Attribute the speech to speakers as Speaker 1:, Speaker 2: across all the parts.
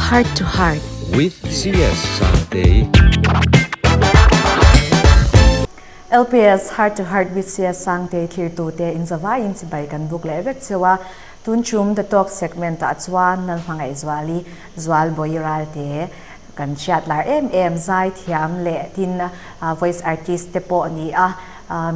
Speaker 1: Heart to Heart with CS Sangtei LPS Heart to Heart with CS Sangtei thlir tute inzavaiin chibai kan buk leh vek cheu a Tun chum The Talk segment-ah chuan nan hmangaihzuali Zualbawi ral te kan hriatlar em em, zaithiam leh tin voice artist te pawh ni a,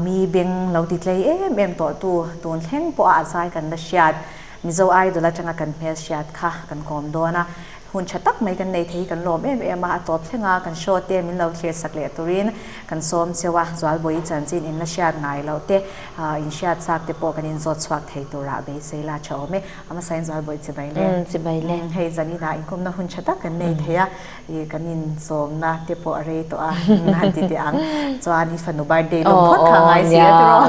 Speaker 1: mi beng lo titlei em em tawhtu tun thleng pawha a zai kan la hriat, Mizo Idol atanga kan hmelhriat kha kan kawm dawn a. hun tha tak mai kan nei thei hi kan lawm em em a, a tawp thleng a, kan show te min lo thlir sak leh turin kan sawm cheu a, Zualbawiin chanchin in la hriat ngai lo te, in hriat chak te pawh kan in zawt chhuak thei turah beisei la tha awm e, a hmasain Zualbawi chi mai le, hei zan inah inkhawmna hun tha tak kan nei thei a, i kan in sawmna te pawh a rei tawh a, han ti teh ang chuan i fanu birthday lawm phawt kha ngai si a tiraw,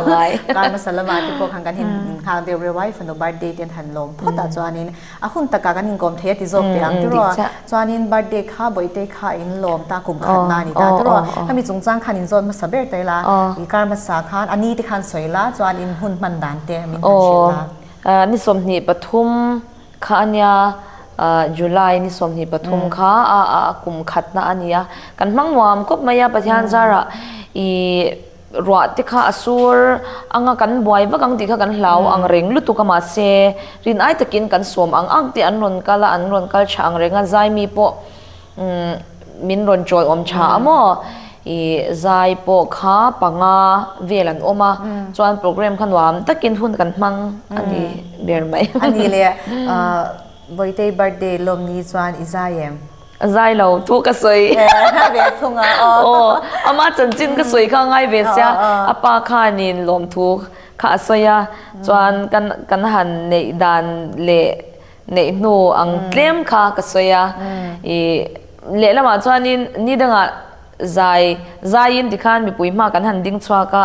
Speaker 1: Karmasa lamah te pawh khan kan in nghak deuh reuh a, i fanu birthday ten han lawm phawtah chuanin, A hun takah kan inkawm thei a ti zawk teh ang tiraw. Chuanin birthday kha Bawihte kha in lawm ta kum khatna a ni ta tiraw. Khami chungchang khan in zawn hmasa ber teh la. I kar hmasa khan a ni te khan sawi la chuan in hun hman dan te min han hrilh la. Aww. Ni sawmhnih pathum kha a nia, July ni sawmhnih pathum kha a kum khatna a ni a. Kan hmang nuam khawp mai a Pathian zarah i. Ruah te kha a sur ang a, kan buai vak ang tih kha kan hlau ang reng lutuk a, mahse rin ai takin kan sawm ang ang teh an rawn kal a, an rawn kal tha ang reng a, zai mi pawh umm min rawn tawlhawm tha a maw, ih zai pawh kha panga vel an awm a, chuan programme kha nuam takin hun kan hmang a ni ber mai. A ni le, Bawitei birthday lawmni chuan i zai em? A zai lo, thu ka sawi. Ngai ve a chung a aw. Aw, ama chanchin ka sawi kha ngai ve sia. A pa khanin lawmthu kha a sawi a, chuan kan kan han neih dan leh neih hnu ang tlem kha ka sawi a. I lehlamah chuanin ni dangah zai zaiin tikhan mipui hma kan han ding chhuak a.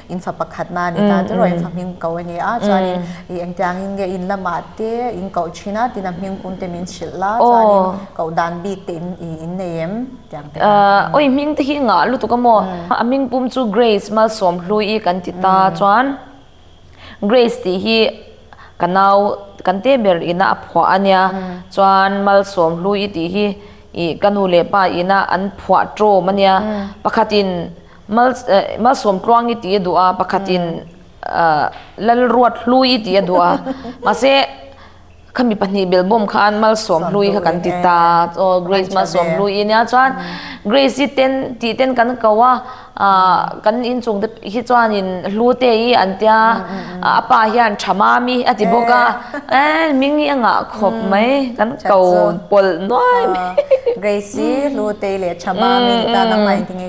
Speaker 1: In fa pakhat na ni ta tiraw in fa hming ko a ni a chuanin i engtiang in nge in lamah te in koh thin a tina hming kung te min hrilh la chuanin koh dan bik te in i in nei em tiang te an oi hming te hi ngah lutuk a maw a hming pum chu Grace Malsawmhlui i kan ti ta chuan Grace tih hi ka nau kan te ber in a a phuah a nia chuan Malsawmhlui tih hi i ka nu leh pa in a an phuah tawm a nia pakhat in Mal malsawm tluang i tih a duh a, pakhatin Lalruat hlui i tih a duh a. Mahse, khami pahnih bel bawm khan malsawm hlui kha kan ti ta. Aw, Grace malsawm hlui i nia chuan Grace i ten tih ten kan ko a, kan inchung te hi chuanin Hlute i an tia, a pa hian Tha Mami a ti bawk a. Ae, ming hi a ngah khawp mai, kan ko pawlh nuai mai. Grace i Hlute i leh Tha Mami te tan an ngaihting e.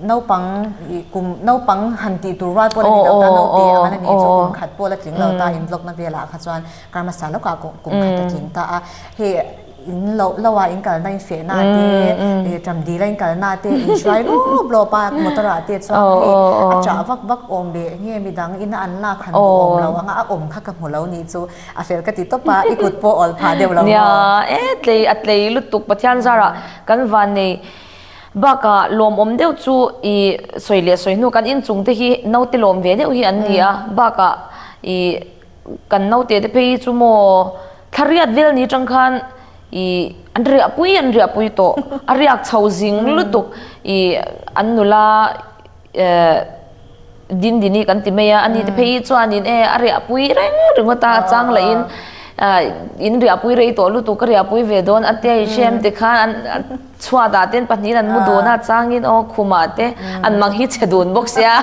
Speaker 1: Naupang ih kum, naupang han tih tur rual pawh la ni lo ta, naute a man ani chu kum khat pawh la tling lo ta, in blogna velah kha chuan Karmasa lawkah kum kum khat a tling ta a, hei in lo loa in kalna in feh na te, ih ṭam dila in kal na te, in hruai lawp lawp a, motor ah te chuan hei a ṭah vak vak awm leh nge mi dang in a an lak han duh awm lo ang a, a awm kha ka hmu lo ni chu a fel ka ti tawp a, i kut pawh a awlpha deuh lo maw? Nia, e tlei a tlei lutuk, Pathian zarah kan van nei. Baka lawm awm deuh chu i sawi leh sawi hnu kan inchung te hi naute lawm ve deuh hi an ni a. Baka i kan naute te phei hi chu maw thla riat vel ni tang khan i an riahpui an riahpui tawh a riak chho zing lutuk i an nula Din din i kan ti mai a, a ni te phei hi chuanin e a riahpui reng ringawt a, a chang lah in in riahpui rei tawh lutuk ka riahpui ve dawn a tia i hrem ti khan an chhuat ah te an pahnih in an mu dawn a, a chang in aw khum ah te an mang hi chhe dun bawk sia.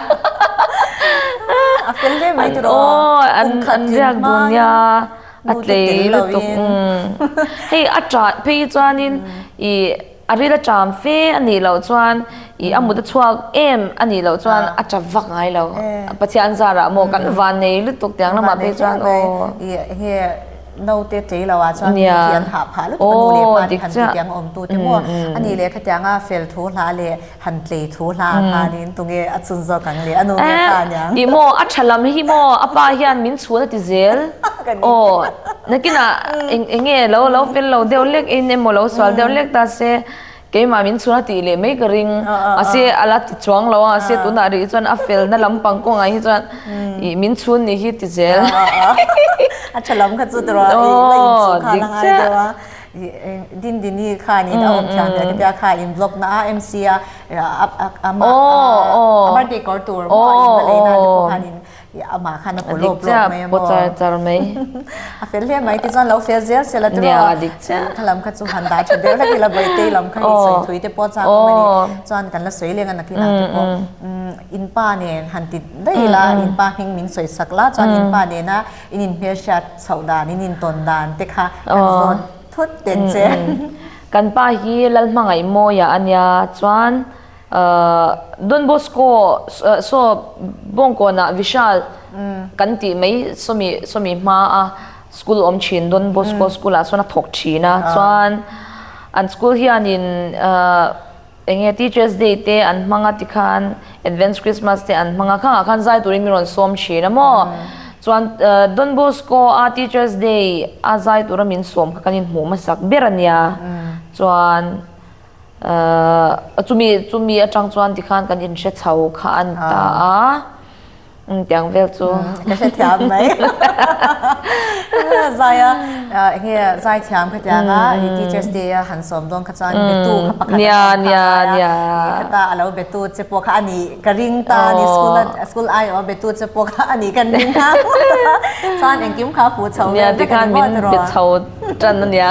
Speaker 1: A fel daih mai tur aw kum khat tlin hmang in nu te tel lo in. Hei a tah phei hi chuan in i. A rit a ṭam fe a nih loh chuan ih a mut a chhuak em a nih loh chuan a ṭap vak ngai lo. Pathian zarah maw kan van nei lutuk tiang lamah pawh chuan aw. Naute tlei lo ah chuan mi khi an hah phah lutuk a nu leh pa nih han ti tiang a awm tu te maw a nih leh kha tiang a fel thu hlah leh Han tlei thu hla khanin tunge a chun zawk ang le, a nu nge hla niang. I maw, a tha lam hi maw a pa hian min chhuan a ti zel? Ka ni. Aw, nakinah eng eng nge lo lo fel lo deuh lek in emaw lo sual deuh lek ta se, keimah min chhuan a tih leh mai ka ring. Mahse a la ti chuang lo a, se tunah rih chuan a felna lampang kawngah hi chuan i min chhun ni hi ti zel. A tha lam kha chu tawrah i la inchung kha a la ngai deuh a. Dindini khanin a awm thiam leh tia kha in block na a MC a ama a birthday kawr tur maw a inva lei nan te pawh khanin amah khan a pawh lawk block mai a maw a fel hle mai tichuan lo fel zel zel a ti rawh a kha lam kha chu han dah tha ber vek ila vawihtei lam kha hi sawi thui te pawh chang awm a ni chuan kan la sawi leng a nakin ang te pawh in pa nen han ti daih ila in pa hming min sawi sak la chuan in pa nena. In inhmelhriat chhoh dan, in intawn dan te kha kan zawn thut ten che. Kan pa hi Lalhmangaih mawia a nia chuan Don Bosco saw Bawngkawnah Vishal kan tih mai sawmi sawmi hma a school awm thin Don Bosco school ah sawn a thawk thin a chuan an school hian in Enge Teachers Day te an hmang a ti khan Advance Christmas te an hmang a, khangah khan zai turin min rawn sawm thin a maw? Chuan Don Bosco-a Teachers Day a zai tura min sawm kha kan inhmuh hmasak ber a nia, chuan chumi chumi atang chuan tikhan kan inhre chho kha an ta a. Tiang vel chu. Ka hre thiam mai. Zaia enge zai thiam kha tiang a i teachers day a han sawm dawn kha chuan betu kha pakhat a awm kha ngai a. I heta a lo betu che pawh kha a ni ka ring ta a ni school a school ai awm a betu che pawh kha a ni kan ring ta chuan engkim kha pu chho vel vek a ni maw tiraw. Nia tikhan min be chho tan a nia.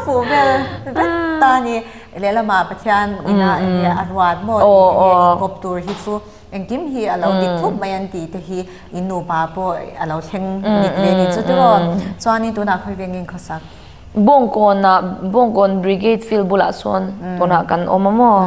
Speaker 1: Pu vel vek ta a ni. Lehlamah Pathian ina enge a ruat maw tih enge a inkawp tur hi chu engkim hi a lo dik thup mai an tih te hi in nupa pawh a lo thleng dik ve ni chu tiraw. Chuanin tunah khawi ve ngeiin khawsak. Bawngkawnah, Bawngkawn Brigade Field bulah chuan tunah kan awm a maw?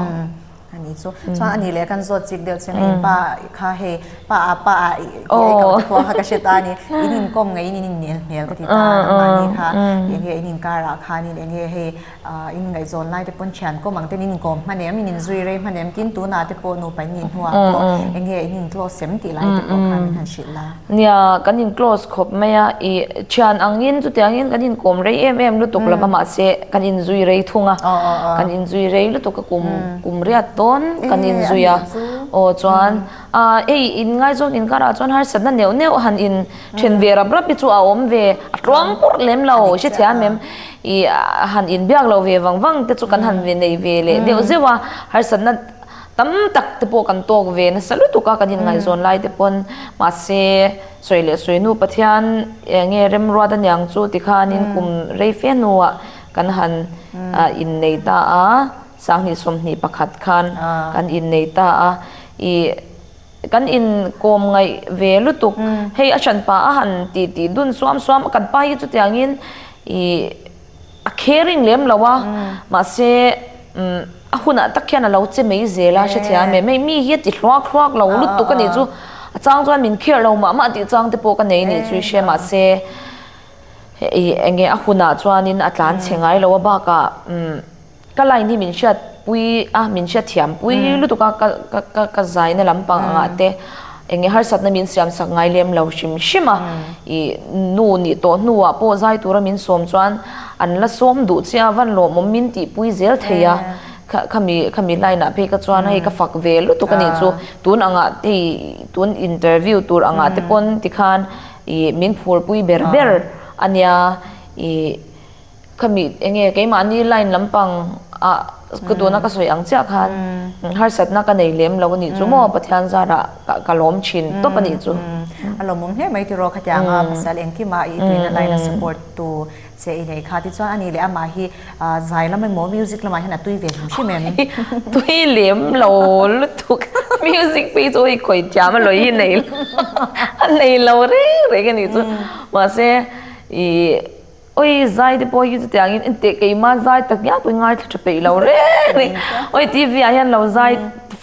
Speaker 1: A ni chu. Chuan a nih leh kan zawt chik deuh che mai. Pa kha hei, Pa a, Pa a tih a i kalhte pawh kha ka hre ta a ni. In inkawm ngeiin in innel hmel ka ti ta a, nangmahni kha enge in inkarah khanin enge hei, Ahh in ngaihzawn lai te pawn thian kawm ang ten in inkawm hman em, in inzui rei hman em, tin tunah te pawh nupa in inhnuah pawh enge in in close em tih lai te pawh kha min han hrilh la. Nia, kan in close khawp mai a, i thian angin chutiangin kan inkawm rei em em lutuk lova mahse kan inzui rei thung a, kan inzui rei lutuk a kum kum riat dawn kan inzui a, aw chuan. Aaa ei in ngai zawn inkarah chuan harsatna neuh neuh han in then ve rap rap hi chu a awm ve a tluang purh lem lo ka hre thei a mem ih a han in biak lo ve vang vang te chu kan han ve nei ve leh deuh zeuh a harsatna tam tak te pawh kan tawk ve nasa lutuk a kan in ngaihzawn lai te pawn mahse sawi leh sawi nu Pathian eng nge Remruat aniang chu tikhanin kum rei fe hnuah kan han ah innei ta a. Sanghnih sawmhnih pakhat khan kan innei ta a, i kan inkawm ngaih ve lutuk. Hei a ṭanpa a han titi dun suam suam a, kan pa hi chutiangin i a caring lem lo a, mahse a hunah tak hian a lo che mai zel a, hrethiam em hei mi hi a ti hluak hluak lo lutuk a nih chu, a chang chuan min care lo mah mah tih chang te pawh ka nei a nih chu i hria, mahse i enge a hunah chuanin a tlan che ngai lo a bakah. Ka line hi min hriat pui a, min hriat thiam pui lutuk a, ka zaina lampang ang ah te eng nge harsatna min siam sak ngai lem lo hrim hrim a, i nu nih tawh hnu ah pawh zai tura min sawm chuan an la sawm duh che a, van lawm awm min tih pui zel thei a, kha mi line ah phei kha chuan hei ka fak ve lutuk a nih chu, tun ang ah hei tun interview tur ang ah te pawn ti khan i min phur pui ber ber a nia, i. khami enge keimahni line lampang ah ka duhna ka sawi ang chiah khan harsatna ka nei lem lo a nih chu maw Pathian zarah ka lawm thin tawp a nih chu. A lawmawm hle mai tiraw kha tiang a pasal engkima i tuina line a support tu che i nei kha tichuan ani leh amah hi zai lam emaw music lamah hian a tui ve hlim hlim em. Tui lem lo lutuk music phei chu hei khawih thiam a lawi hi nei a nei lo reng reng a nih chu mahse i Awi zai te pawh hi chutiang in inteh keima zai tak ngiah pawhin ngaithla tha peih lo reng ni awi TV ah hian lo zai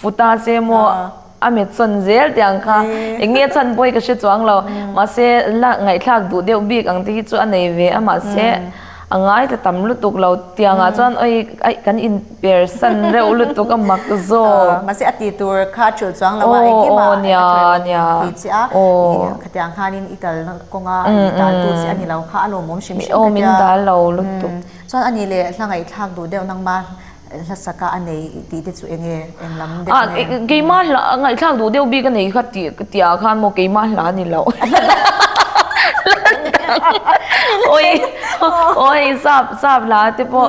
Speaker 1: futa se maw a met sawn zel teh ang kha enge chhan pawh hi ka hre chuang lo mahse la ngaihthlak duh deuh bik ang te hi chu a nei ve a mahse a ngaithla tam lutuk lo tiang ah chuan awi kan in Persan reuh lutuk a mak zawk. Aw, mahse a ti tur kha a ṭhulh chuang lo a, engkim ah eng a ṭawi awm tih chiah a, ih khatiang khan in i tal kawng a, i dal tu chiah a ni lo kha, a lawmawm hrim hrim ka tia, chuan ani le hla ngaihtlak duh deuh nangma hlasak a a nei tih te chu eng nge, eng lam deuh nge? Ah, keimah a hla, ngaihtlak duh deuh bik a nei kha tih ka tia khan maw keimah a hla a ni lo. Awii, awii, sap, sap hla te pawh.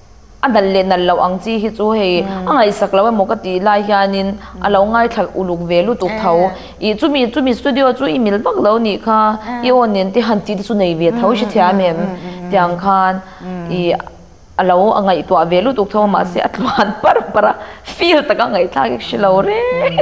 Speaker 1: A nal leh nal loh ang chi hi chu hei a ngaihsak loh emaw ka tih lai hianin a lo ngaithlar uluk ve lutuk tho. Ih chumi chumi studio chu i mil vak lo nih kha, i awn nen tih han tih te chu nei ve tho hrethiam em tiang khan ih a lo a ngaihtuah ve lutuk tho a mahse a tluan par par a, feel taka ngaihthlak ik hre lo reng.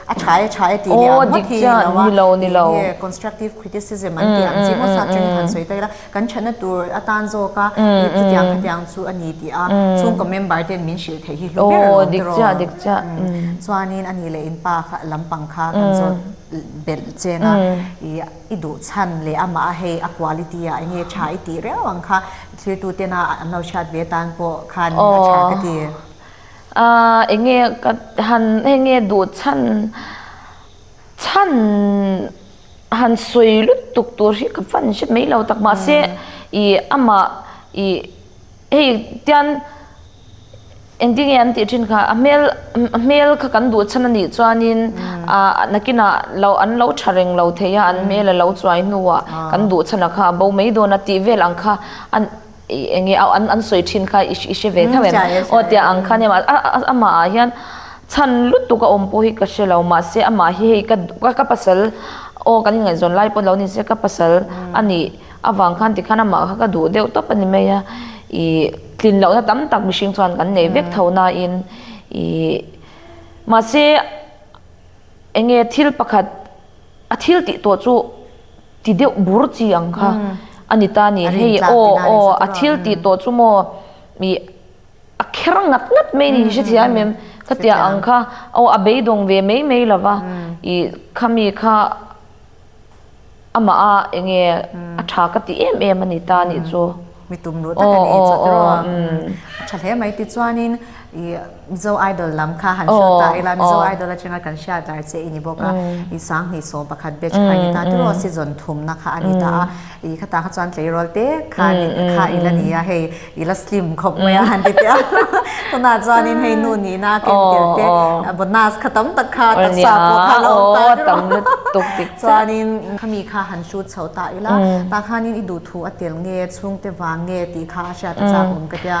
Speaker 1: A tha e, tha e tih leh ang ngawt hi a ni lo a, tih nge constructive criticism an tih ang chi maw sa ṭeng han sawi ta ila, kan ṭhatna tur atan zawk a i chutiang khatiang chu a ni tih a, chhungkaw member ten min hrilh theih hi hlu ber a lo tir aw, chuanin a nih leh in pa kha lampang kha kan zawt belh cheng a, i i duh chhan leh amah a hei a quality ah enge tha i tih reuh ang kha thlir tute na an lo hriat ve tan pawh khan a tha ka ti. Aaa enge ka han enge duh chhan chhan han sawi lutuk tur hi ka van hre mai lo tak mahse i amah i hei tian engtin nge an tih thin kha a hmel a hmel kha kan duh chhan a nih chuanin aa nakinah lo an lo tha reng lo thei a an hmel a lo chuai hnuah kan duh chhan a kha a bo mai dawn a tih vel ang kha a. I eng nge a an sawi thin kha i i hre ve thauh em? Aw tia ang khan em? Amahah hian chhan lutuk a awm pawh hi ka hrelo mahse amah hi hei ka duh ka pasal aw kan inngaizawn lai pawh lo ni se ka pasal a ni avang khan tikhan amah kha ka duh deuh tawp a ni mai a i tlin lohna tam tak mihring chuan kan nei vek tho nain i mahse eng nge thil pakhat A thil tih tawh chu ti deuh bur chi ang kha a ni ta ni. Hei aw aw a thil tih tawh chu maw i a kher ngat ngat mai ni hrethiam em em ka tia ang kha. Aw a beidawng ve mai mai lo va, i khami kha amah a eng nge a tha ka ti em em a ni ta ni chu. Mi tum luh tak a ni chawt erawh a, a tha hle mai tichuanin i Mizo Idol lam kha han hriat ta ila, Mizo Idol atanga kan hriat dar che i ni bawk a, i sang hnih sawm pakhat batch kha a ni ta te rawh, season thumna kha a ni ta a, i khata kha chuan tleirawl te kha kha i la ni a, hei i la slim khawp mai a han ti tel a, tunah chuanin hei nu nihna a ken tel te, a bonus kha tam tak kha taksa pawh kha a la awm ta te rawh, chuanin khami kha han shoot chho ta ila, ta khanin i duh thu. Chu a tel nge, chhungte vang nge tih kha a hriat a chak awm ka tia.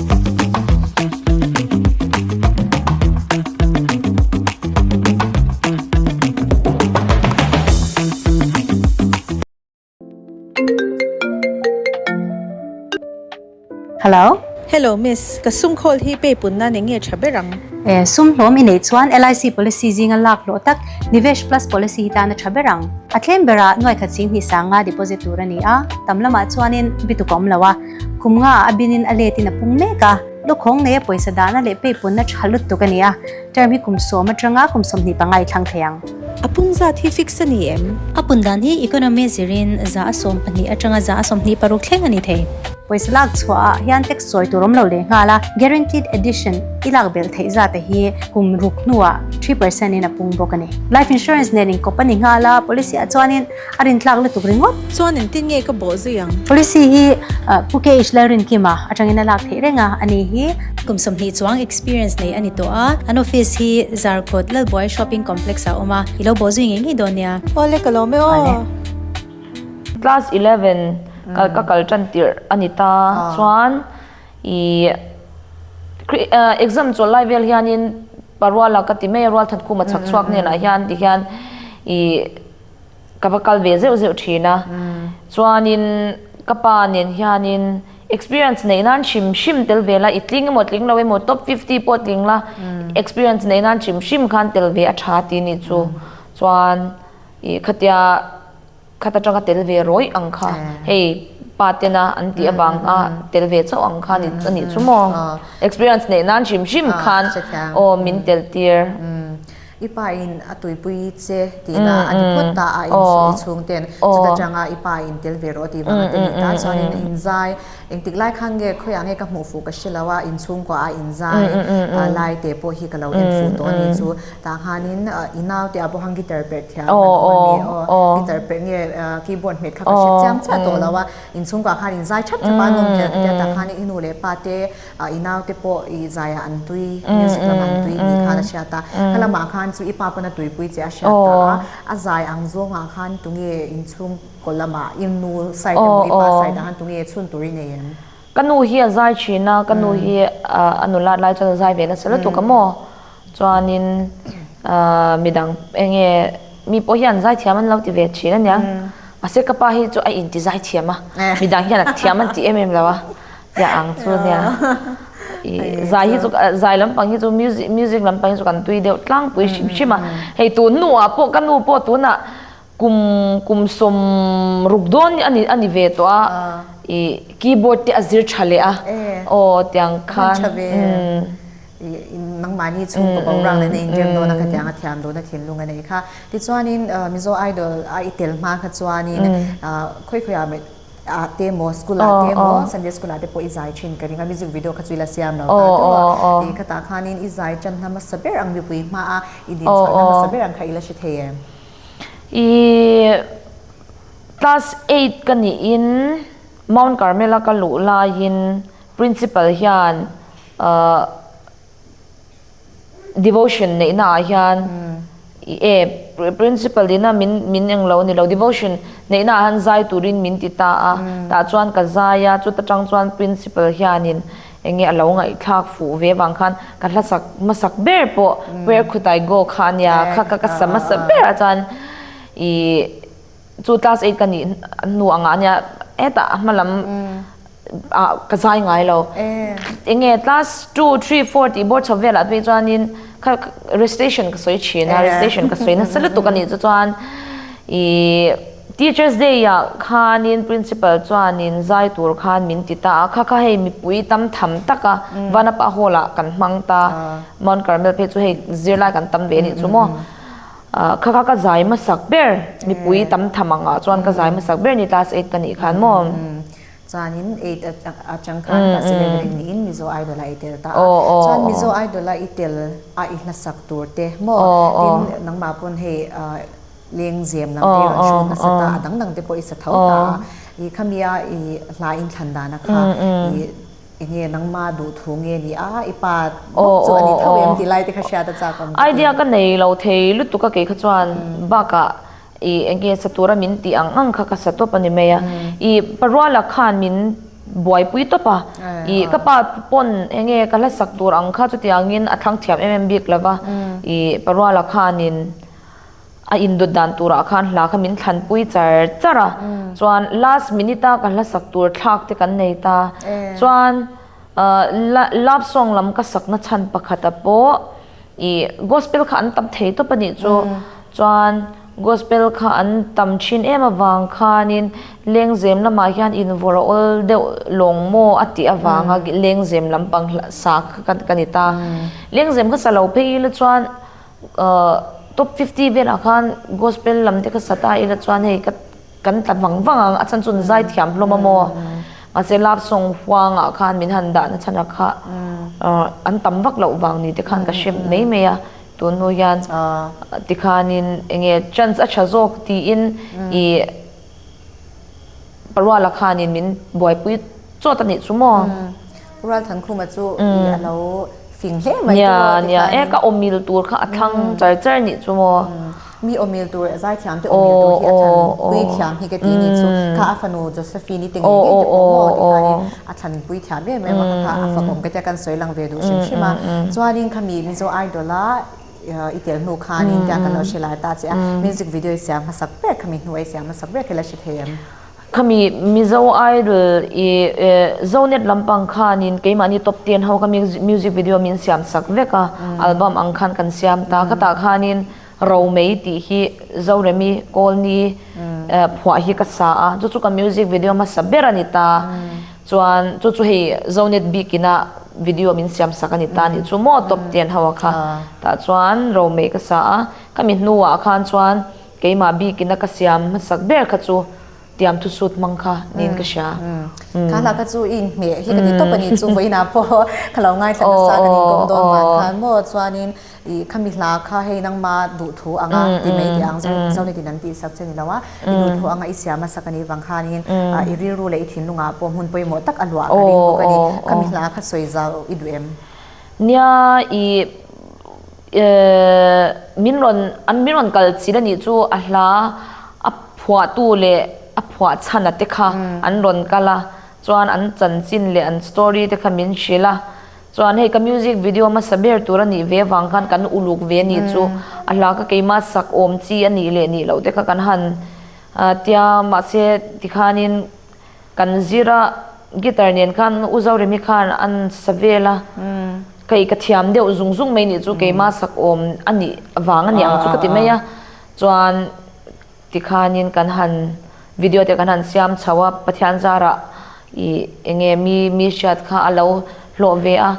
Speaker 1: Hello. Hello miss, ka sum call hi pay pun nan enge tha ber ang? Eh, sum hlawm i nei chuan LIC policy zinga lak hlawh tak Nivesh Plus policy hi tan a tha ber ang. A claim berah nuai khat sing hnih sanga deposit tur a ni a, tam lamah chuanin bituk a awm lo a. Khum nga a bin in a let in a pung mek a, lukhawng nei a pawisa dan a leh peipuan na tha lut tuk a ni a, term hi kum sawm atang a, kum sawm hnih panga i thlang thei ang. A pung zat hi fix a ni em? A pun dan hi economy zir in za a sawm pahnih atang a, za a sawm hnih paruk thleng a ni thei. Pawisa lak chhuah ah hian tax sawi tur awm lo leh nghal a, guaranteed addition i lak belh theih zat a hi kum ruk hnu ah three percent in a pung bawk a ni. Life insurance nen in kawp a ni nghal a, policy ah chuan in A rin tlak lutuk ringawt. Chuan in tin nge ka bawh zui ang. Policy hi Pu KH Lalrinkima atangin a lak theih reng a, a nih hi. Kum sawmhnih chuang experience nei a ni tawh a, an office hi Zarkut Lalbuai Shopping Complex ah a awm a, i lo bawh zui ngei ngei dawn nia. Awle ka lawm e aw. Class eleven kal ka kal tan tirh a ni ta chuan i exam chawlh lai vel hianin pa ruala ka ti mai a, rualthat khuma chhak chhuak nen ah hian tihian i. ka va kal ve zeuh zeuh thin a, chuanin ka pa nen hianin experience neih nan hrim hrim tel ve la, i tling emaw tling lo emaw top fifty pawh tling la experience neih nan hrim hrim khan tel ve a tha tih ni chu, chuan ih khatia khat atanga tel ve rawih ang kha, hei pa tena an tih avang a tel ve chauh ang kha ni anih chu maw, experience neih nan hrim hrim khan aw min tel tir. I pa in a tuipui che tihna a ni phawt ta a, in suh i chhung ten chuta tanga i pa in tel ve rawh a ti vang a ti ni ta chuanin a inzai, engtik lai khan nge khawiah nge ka hmuh fuh ka hre lo a, inchhung kuah a inzai lai te pawh hi ka lo en fuh tawh a ni chu, tah khanin i nau te ah pawh khan guitar perh thiam kan awm a ni aw, guitar perh nge keyboard hmet kha ka hre chiang chiah tawh lo a, inchhung kuah khan inzai thap thap a nawm hmel ka tia tah khan i nu leh pa te, A i naute pawh i zaiah an tui, music lamah an tui tih khan a hriat a. Kha lamah khan chu i pa pawn a tuipui che a hriat ta a. A zai ang zawngah khan tunge inchhung kaw lamah i nu side emaw i pa side ah khan tunge chhun tur i nei em? Ka nu hi a zai thin a, ka nu hi a nu lat lai chuan a zai ve nasa lutuk a maw? Chuanin midang enge mi pawh hian zai thiam an lo ti ve thin a nia. Mahse ka pa hi chu a intizai thiam a, midang hian a thiam an tih em em lo a. Tia ang chu nia i zai hi chu zai lampang hi chu music music lampang hi chu kan tui deuh tlangpui hrim hrim a hei tun nu ah pawh ka nu pawh tunah kum kum sawm ruk dawn ani ani ve tawh a i keyboard te a zir tha leh a aw tiang khan nangmah ni chu ka boruak leh na in rem dawn a ka tiang a thiam dun a thinlung a nei kha tichuanin mizo idol a i tel hma kha chuanin khawihkhawih ah ah te maw school ah te maw sunday school ah te pawh i zai thin ka ring a music video kha chu ila siam lo ta teuh a ih khatah khanin i zai tan hna hmasa ber ang mipui hma a i din chhuah hna hmasa ber ang kha ila hre thei em ih class eight ka niin mount carmel a ka luh laiin principal hian ah. Devotion neihnaah hian e principle nihna min min eng lo ni lo devotion neihnaah hian zai turin min ti ta a tah chuan ka zai a chuta tang chuan principle hianin eng nge a lo ngaihthlak fuh ve vang khan ka hlasak hmasak ber pawh prayer khutai go kha a nia kha ka ka sa hmasa ber a chuan i chu class eight ka nih hnu angah nia hetah a hma lam ah ka zai ngai lo eng nge class two three four tih board chho velah te pawh chuanin kha recitation ka sawi thin a recitation ka sawi nasa lutuk a nih chu chuan ih teachers day ah khanin principal chuanin zai tur khan min ti ta a kha kha hei mipui tam tham taka vanapa hall ah kan hmang ta mount carmel phei chu hei zirlai kan tam ve a nih chu maw. Ahh kha kha ka zai masak ber mipui tam tham ang ah chuan ka zai masak ber ni class eight ka nih khan maw? Umm chuanin eight a chang khan class eleven in niin Mizo Idol a i tel ta a chuan Mizo Idol a i tel a i hla sak tur te maw tin nangmah pawn hei leng zem lam te kan hruai nasa ta a dang dang te pawh i sa tho ta a i khami a i hla inthlan dan a kha i Enge nangma duhthu nge ni a, i pa bawk chu a ni tho em ti lai te kha hriat a chak ang ka ti. Idea ka nei lo thei lutuk a kei kha chuan bakah i enge sa tura min tih ang ang kha ka sa tawp a ni mai a. I pa ruala khan min buaipui tawp a, i ka pa pawn enge ka hlasak tur ang kha chutiangin a thlang thiam em em bik lova, i pa ruala khanin A indawt dan turah khan hla kha min thlanpui char char a, chuan last minute a ka hlasak tur thlak te kan nei ta, chuan love song lam ka sakna chhan pakhat ah pawh i gospel kha an tam thei tawp a nih chu, chuan gospel kha an tam thin em avang khanin lengzem lamah hian in vawrawl deuh lawng maw a tih avanga lengzem lampang sa kha ka ni ta, lengzem kha sa lo phei ila chuan Ahh top fifty vel ah khan gospel lam te ka sat a ila chuan hei ka kan tla vang vang ang a chhan chu zai thiam hlawm a maw mahse love song huang ah khan min han dah na chhan ah kha ahh an tam vak loh vang ni te khan ka hre mai mai a tun hnu hian tikhan in enge chance a tha zawk tiin ih Ka rual a khan in min buaipui chawt a nih chu maw? Ka rual thankhuma chu ih a lo fing hle mai chu maw tikhan. Nia, nia, e ka awmil tur kha a thlang char char nih chu maw? Mi awmil tur zai thiam te awmil tur hi a thlan pui thiam hi ka ti nih chu kha a fanu Josephine i te ngei ngei te pawh maw tikhan in a thlan pui thiam em em a kha kha a fakawm ka tia kan sawi lang ve duh hrim hrim a. Chuan in kha mi Mizo Idol a. I tel hnu khan in tiang kan lo hre lai ta che a, music video i siam hmasak ber khami hnu i siam hmasak ber khi la hre thei em? Khami Mizo Idol i Zonet lampang khan in keimahni top ten ho kha music video min siam sak vek a, album ang khan kan siam ta. Khata khan in Romei tih hi Zoremi Kawlni phuah hi ka sa a, chu chu ka music video hmasa ber a ni ta. Chuan chu chu hei Zonet bik ina video min siam sak a ni ta nih chu maw top ten ho a kha tah chuan ro meh ka sa a, ka mi hnu ah khan chuan keimah bik ina ka siam hmasak ber kha chu tiam thusut hmang kha niin ka hria. Khah hlah kha chu i in ngheh hi ka ni tawp a ni chu vawiin ah pawh ka lo ngaithla nasa ka nih kawm dawn van khan maw chuan in I khami hla kha hei nangma duhthu ang a ti mai tih ang zau ni tiin an tih sak che ni lo a, i duhthu ang a i siam a sak a nih vang khanin i rilru leh i thinlung ah pawh hmun pawimawh tak a luah ka ring bawk a ni, khami hla kha sawi zau i duh em? Nia i eh min rawn an min rawn kal chil a nih chu a hla a phuah tu leh a phuah chhan a te kha an rawn kal a chuan an chanchin leh an story te kha min hrilh a. Chuan hei ka music video hmasa ber tur a nih ve avang khan kan uluk ve ni chu a hla ka keima sak awm chi a nih leh nih loh te kha kan han tia mahse tikhanin kan zir a guitar nen khan u Zoremi khan an sa vel a hei ka thiam deuh zung zung mai nih chu keima sak awm a nih vang a ni ang chu ka ti mai a chuan Tikhanin kan han video te kan han siam chho a, Pathian zara ih eng nge mi mi hriat kha a lo hlawh ve a.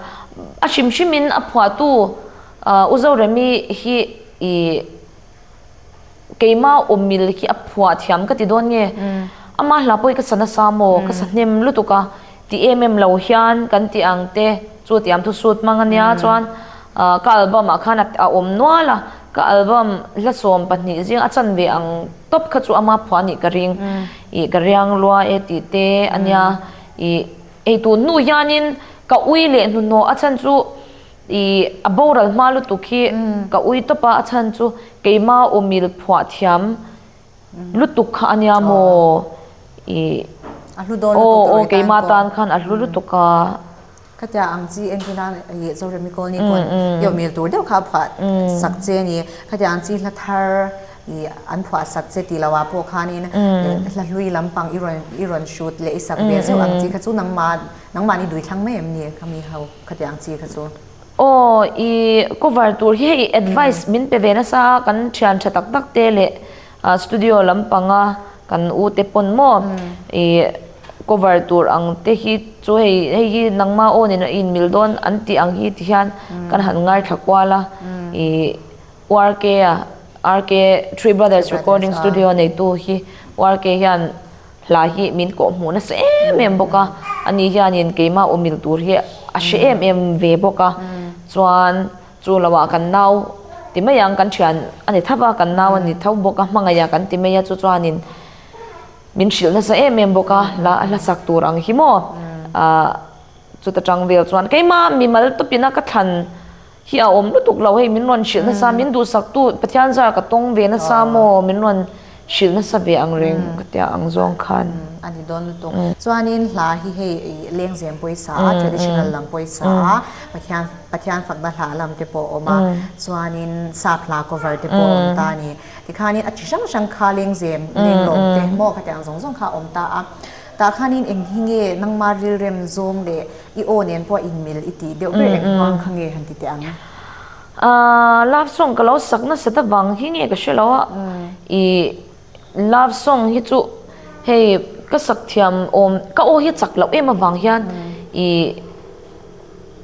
Speaker 1: A hrim hrimin a phuahtu U Zoremi hi ih keima awmil khi a phuah thiam ka ti dawn nge? Amah hla pawh i ka sa nasa maw? Ka sa hnem lutuk a. Ti em em lo hian kan ti ang te chu tiam thu sut hmang a nia chuan ka album ah khan a awm nual a ka album hlasawm pahnih zing a chan ve ang tawp kha chu a ma phua nih ka ring ih ka riang lua e tih te a nia ih eitur hnu hian in ka ui leh hnuhnawh a chhan chu ih a boral hma lutuk hi ka ui tawp a a chhan chu keima umil phuah thiam lutuk kha a nia maw ih. A hlu dawn lutuk tawh rei tan pawh. Aw aw keima tan khan a hlu lutuk a. Khatiang ang chi enkaina leh Zoremi colony pawh an i awmel tur deuh kha a phuah sak che a ni. Khatiang ang chi hla thar ih an phuah sak che tih loh ah pawh khanin hla hlui lampang i rawn i rawn hrut leh i sak ve zeuh ang chi kha chu nangmah nangmahni duhthlang mai em ni khami ho khatiang ang chi kha chu. Aw, i cover tur hi hei advice min pe ve nasa a, kan thian tha tak tak te leh studio lam panga kan u te pawn maw i cover tur ang te hi chu hei hei hi nangma aw nen i inmil dawn an tih ang hi ti hian kan han ngaithla kual a, i RK a, RK Three Brothers Recording Studio neitu hi RK hian. Hla hi min kawh hmuh nasa em em bawk a, ani hianin keimah umil tur hi a hre em em ve bawk a, chuan chu lo ah kan nau ti mai ang kan thian a ni thap a, kan nau a ni tho bawk a, hmangaih ah kan ti mai a, chu chuanin min hrilh nasa em em bawk a, hla a hlasak tur ang hi maw, ahh chuta tang vel chuan keimah mimal tawp ina ka thlan. Hi a awm lutuk lo hei min rawn hrilh nasa min duhsaktu Pathian zara ka tawng ve nasa maw min rawn hrilh nasa ve ang reng ka tia ang zawng khan. A ni dawn lutuk. Chuanin hla hi hei Lengzem pawisa a traditional lam pawisa a Pathian Pathian fakna hla lam te pawh a awm a chuanin sap hla cover te pawh a awm ta a ni. Tikhanin a chi hrang hrang kha Lengzem Lenglawng te maw ka tia ang zawng zawng kha a awm ta a. Tah khanin eng hi nge nangma rilrem zawng leh i aw nen pawh a inmelh i tih deuh ber engmang kha nge han ti teh ang? Love song ka lo sak nasat avang hi nge ka hre lo a, i love song hi chu hei ka sak thiam awm ka aw hi a chak loh em avang hian i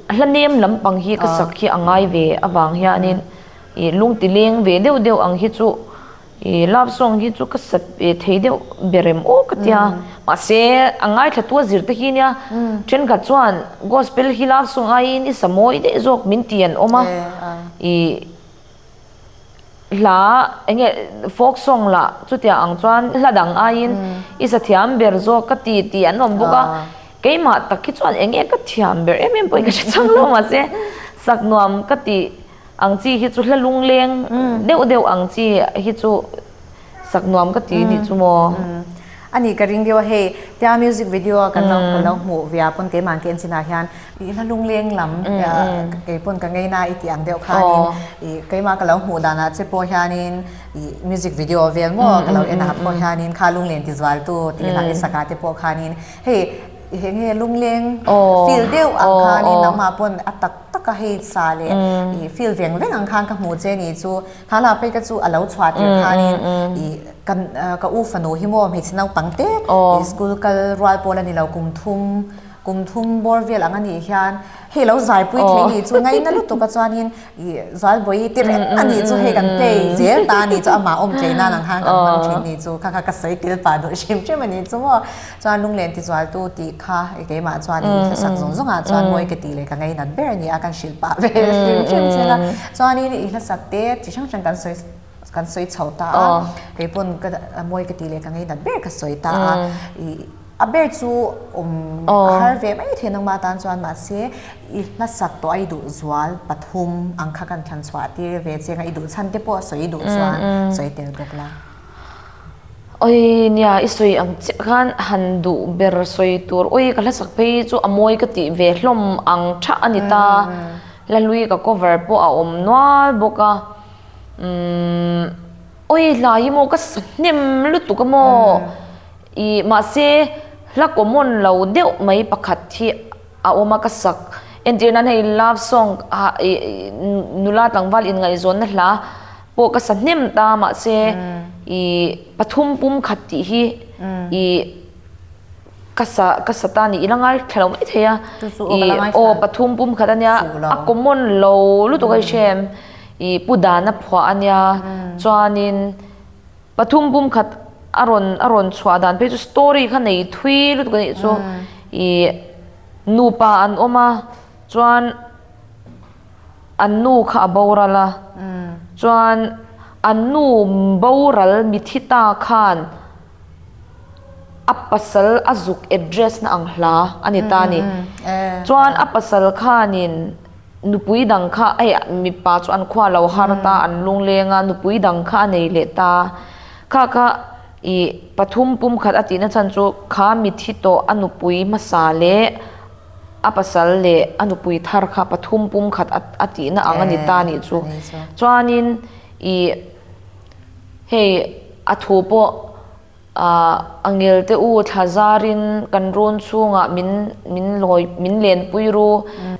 Speaker 1: a hla nem lampang hi ka sak hi a ngai ve avang hianin i lungti leng ve deuh deuh ang hi chu I love song hi chu ka sa thei deuh be rem aw ka tia mahse a ngaithlattu a zir ta hi nia thenkhat chuan gospel hi love song aiin i sa mawi deuh zawk min ti an awm a i hla enge folk song lah chutia ang chuan hla dang aiin i sa thiam ber zawk ka ti tih an awm bawk a keimah tak hi chuan enge ka thiam ber em em pawhin ka hre chang lo mahse sak nuam ka ti. Ang chi hi chu hla lungleng deuh deuh ang chi hi chu sak nuam ka ti nih chu maw? A nih ka ring viau a hei. Tia music video a kan lo hmuh via pawn keimang khi an chinah hian i hla lungleng lam kei pawn ka ngei na i tih ang deuh khanin i keimah ka lo hmuh danah che pawh hianin i music video vel maw ka lo en a pawh hianin kha lungleng tizual tu tih ila i sakah te pawh khanin hei Henge lungleng feel deuh ang khan in ama pun a tak tak a hei sa le i feel veng veng ang khan ka hmu che ni chu ha la phei ka chu a lo chhuat tir khan in i kan ka u fanu hi mo hmeichhe nau tang te i school kal rual pawl a ni lo kum thum kum thum bawr vel ang a nih hian hei lo zaipui thei ni chu ngai na lutuk a chuan in I Zualbawihi ti reng a nih chu hei kan play zel ta a nih chu amah awm tleih nan ang khan kan hmang thin nih chu kha kha ka sawi tel pah duh hrim hrim a nih chu maw chuan lunglen tizualtu tih kha keimah chuan i thlasak zawng zawng ah chuan mawi ka tih leh ka ngei nat ber a nia kan hrilh pah ve hrim hrim chin a chuanin i hlasak te chi hrang hrang kan sawi kan sawi chho ta a keipawn ka mawi ka tih leh ka ngei nat ber ka sawi ta a i A ber chu awm a har ve mai thei nangma tan chuan mahse i hlasak tawh a i duh zual pathum ang kha kan thlan chhuah tir ve cheng a i duh chhan te pawh sawi i duh chuan sawi tel bawk la awi nia i sawi ang chiah khan han duh ber sawi tur awi ka hlasak phei chu a mawi ka tih ve hlawm ang tha a ni ta la hlui ka cover pawh a awm nual bawk a umm Awi hlai emaw ka hnem lutuk emaw i mahse hla common lo deuh mai pakhat hi a awm a ka sak entir nan hei love song nula tlangval inngaihzawnna hla pawh ka sa hnem ta mahse i pathum pum khat tih hi i Ka sa, ka sa ta nih ila ngai thla lo mai thei a. Chu chu aw ka la ngai thla. Ih aw pathum pum khat a nia, a common lo lutuk a hrem. Ih pu dan a phuah a nia, chuanin pathum pum khat a rawn, a rawn chhuah dan phei chu story kha nei thui lutuk a nih chu. Ih nupa an awm a, chuan an nu kha a boral a, chuan an nu boral mithi ta khan, a pasal a zuk address na ang hla a ni ta ni chuan a pasal khanin nupui dang kha ai mipa chu an khua lo har ta an lung leng a nupui dang kha a nei leh ta kha kha i pathum pum khat a tih na chhan chu kha mit hi tawh a nupui hmasa leh a pasal leh a nupui thar kha pathum pum khat a tih na ang a ni ta ni chu chuanin i Hei a thu pawh ahh a ngelte u thlazarin kan run chhungah min min lawi min lenpui ru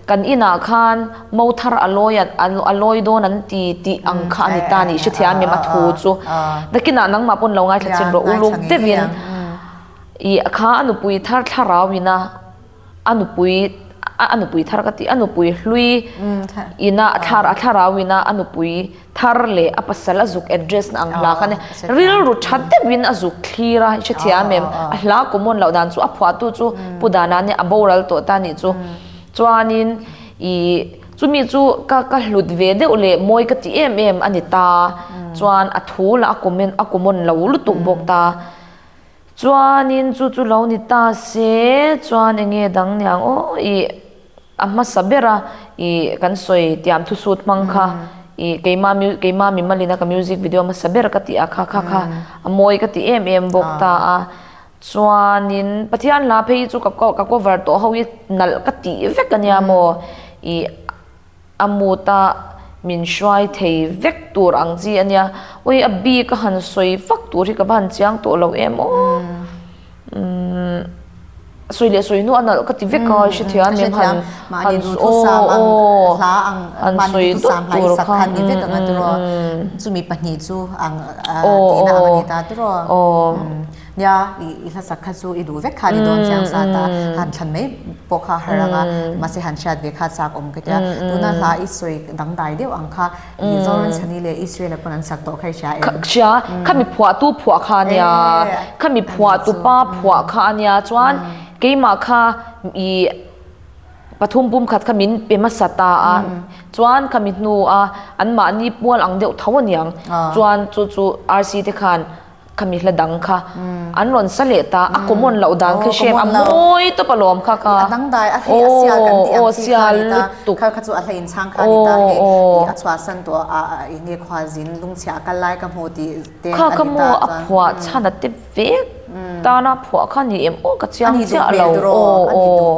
Speaker 1: kan inah khan mothar a lawi at a lawi dawn an ti tih ang kha a ni ta ni hrethiam em a thu chu nakinah nangmah pawh lo ngaithla chin rawh uluk deuhin i kha a nupui thar thlarau ina a nupui a nupui thar ka ti a nupui hlui ina a thar a tharau ina a nupui thar leh a pasal a zuk address na ang hla kha ne rilru tha deuhin a zuk thlir a hrethiam em a hla common loh dan chu a phuah tu chu pu dana nia a boral tawh ta ni chu chuanin i chumi chu ka ka hlut ve deuh leh mawi ka ti em em a ni ta chuan a thu la a common a common lo lutuk bawk ta Chuanin chu chu lo ni ta se chuan eng nge dang niang aw ih a hmasa ber a ih kan sawi tiam thusut hmang kha ih keima keima mi malina ka music video a hmasa ber ka tih a kha kha kha a mawi ka ti em em bawk ta a chuanin pathian la phei hi chu ka cover tawh ho hi nalh ka tih vek ania maw ih. A mut a min hruai thei vek tur ang chi a nia. Ui a bik a han sawi vak tur hi ka va han chiang tawh lo em aw. Sawi leh sawi nu a nalh ka ti vek a, hrethiam em han han aw aw han sawi dup tur kha aw aw. Nia, i hlasak kha chu i duh vek kha a ni dawn chiang sa ta, han thlan mai pawh kha har ang a, mahse han hriat ve kha chak awm ka tia, tuna hla i sawi dangdai deuh ang kha, i Lawrence-ani leh Israel-a pawn an sak tawh kha i hria em? Ka hria, kha miphuahtu phuah kha a nia, kha miphuah tupa phuah kha a nia chuan keimah kha i pathum pum khat kha min pe hmasa ta a, chuan kha mi hnua anmahni pual ang deuh tho a niang, chuan chu chu RC te khan. Khami hla dang kha an rawn sa leh ta a common loh dan kha hriam a mawi tawp a lawm kha kha aw sial lutuk kha ka mu a phuah chhan a ti vek tan a phuah kha ni em aw ka chiang chiah lo aw.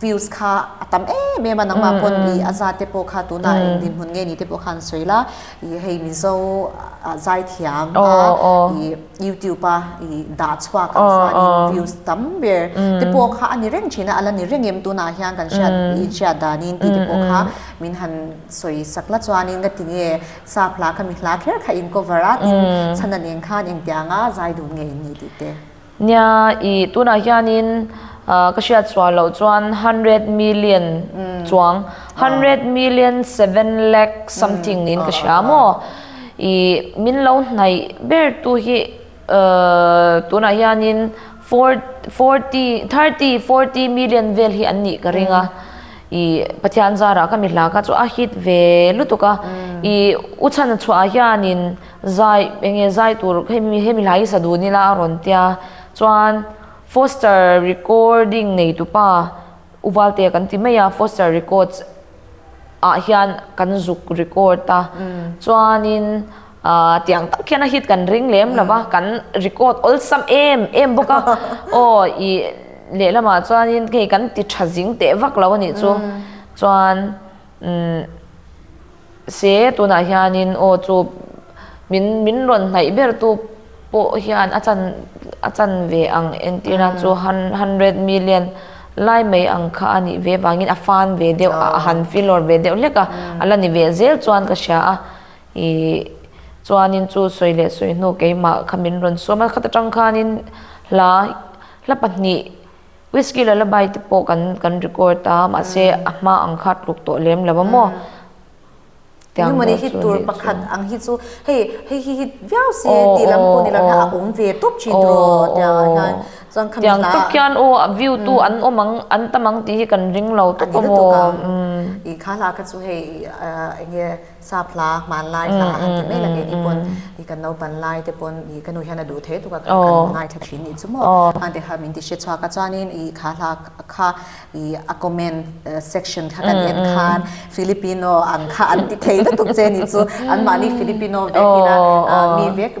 Speaker 1: Views kha a tam em em a nangma pawn i a zate pawh kha tuna eng dinhmun nge ni te pawh kha an sawi la i hei Mizo zaithiam a i YouTube a i dah chhuak ang chuanin views tam ber te pawh kha a ni reng thin a a la ni reng em tunah hian kan hriat i hriat danin tih te pawh kha min han sawi sak la chuanin ka ti nge sa phla kha mi hla kher kha in cover a tin chhana nen khan engtianga zai dun nge in ni tih te. Nia i tunah hianin ka hriat chhuah loh chuan hundred million chuang hundred million seven lakh something in ka hria a maw i min lo hnaih ber tu hi tunah hianin forty thirty forty million vel hi an nih ka ring a i pathian zarah ka mi hla ka chu a hit ve lutuk a i u chhan chhuah ah hianin Zai enge zai tur he he milai hi saduhni la a rawn tia chuan Foster recording neitupa Uvalte kan ti mai a Foster records ah hian kan zuk record a chuanin ahh tiang tak hian a hit kan ring lem lova kan record awlsam em em bawk a aw i lehlamah chuanin hei kan ti tha zing teh vak lo anih chu chuan umm. Se, tunah hianin aw chu min min rawn hnaih bertu pawh hian a chan a chan ve ang entir nan chu hundred million lai mai ang kha a nih ve vangin a fan ve deuh a a han feel awr ve deuh hlek a, a la ni ve zel chuan ka hria a, ih chuanin chu sawi leh sawi hnu keimah kha min rawn suam a khata tang khanin hla hla pahnih. Whisky lullaby te pawh kan kan record a mahse a hma ang kha tluk tawh lem lo a maw tiang deuh chu a ni chu. Engemaw ni hit tur pakhat ang hi chu hei hei hi hit viau si tih lam pawh ni lo hna a awm ve tawp thin rawh tiang a hian chuan khami hla. Tiang tawp hian aw a view tu an awm ang an tam ang tih hi kan ring lo tawp a maw. A ni lutuk ang i kha hla kha chu hei enge. Sa phla, hman lai hla a han ti mai lak e, ni pawn i kan naupan lai te pawn i ka nu hian a duh thei tuk a, kan kan ngai tha thin ni chu maw? Hman te kha min ti hriat chhuak a, chuanin i kha hla kha i a comment section kha kan en khan Filipino ang kha an ti thei lutuk che ni chu, anmahni Filipino vekin a mi vek,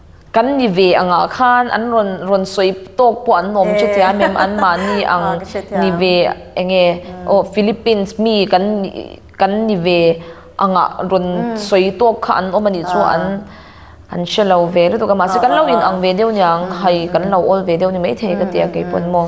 Speaker 1: Kan ni ve angah khan an rawn rawn sawi tawk pawh an awm che thiam em an mahni ang ni ve enge aw Philippines mi kan kan ni ve angah rawn sawi tawk kha an awm anih chu an an hre lo ve lutuk a mahse kan lo inang ve deuh niang hai kan lo awl ve deuh ni maithei ka ti a keipawn maw.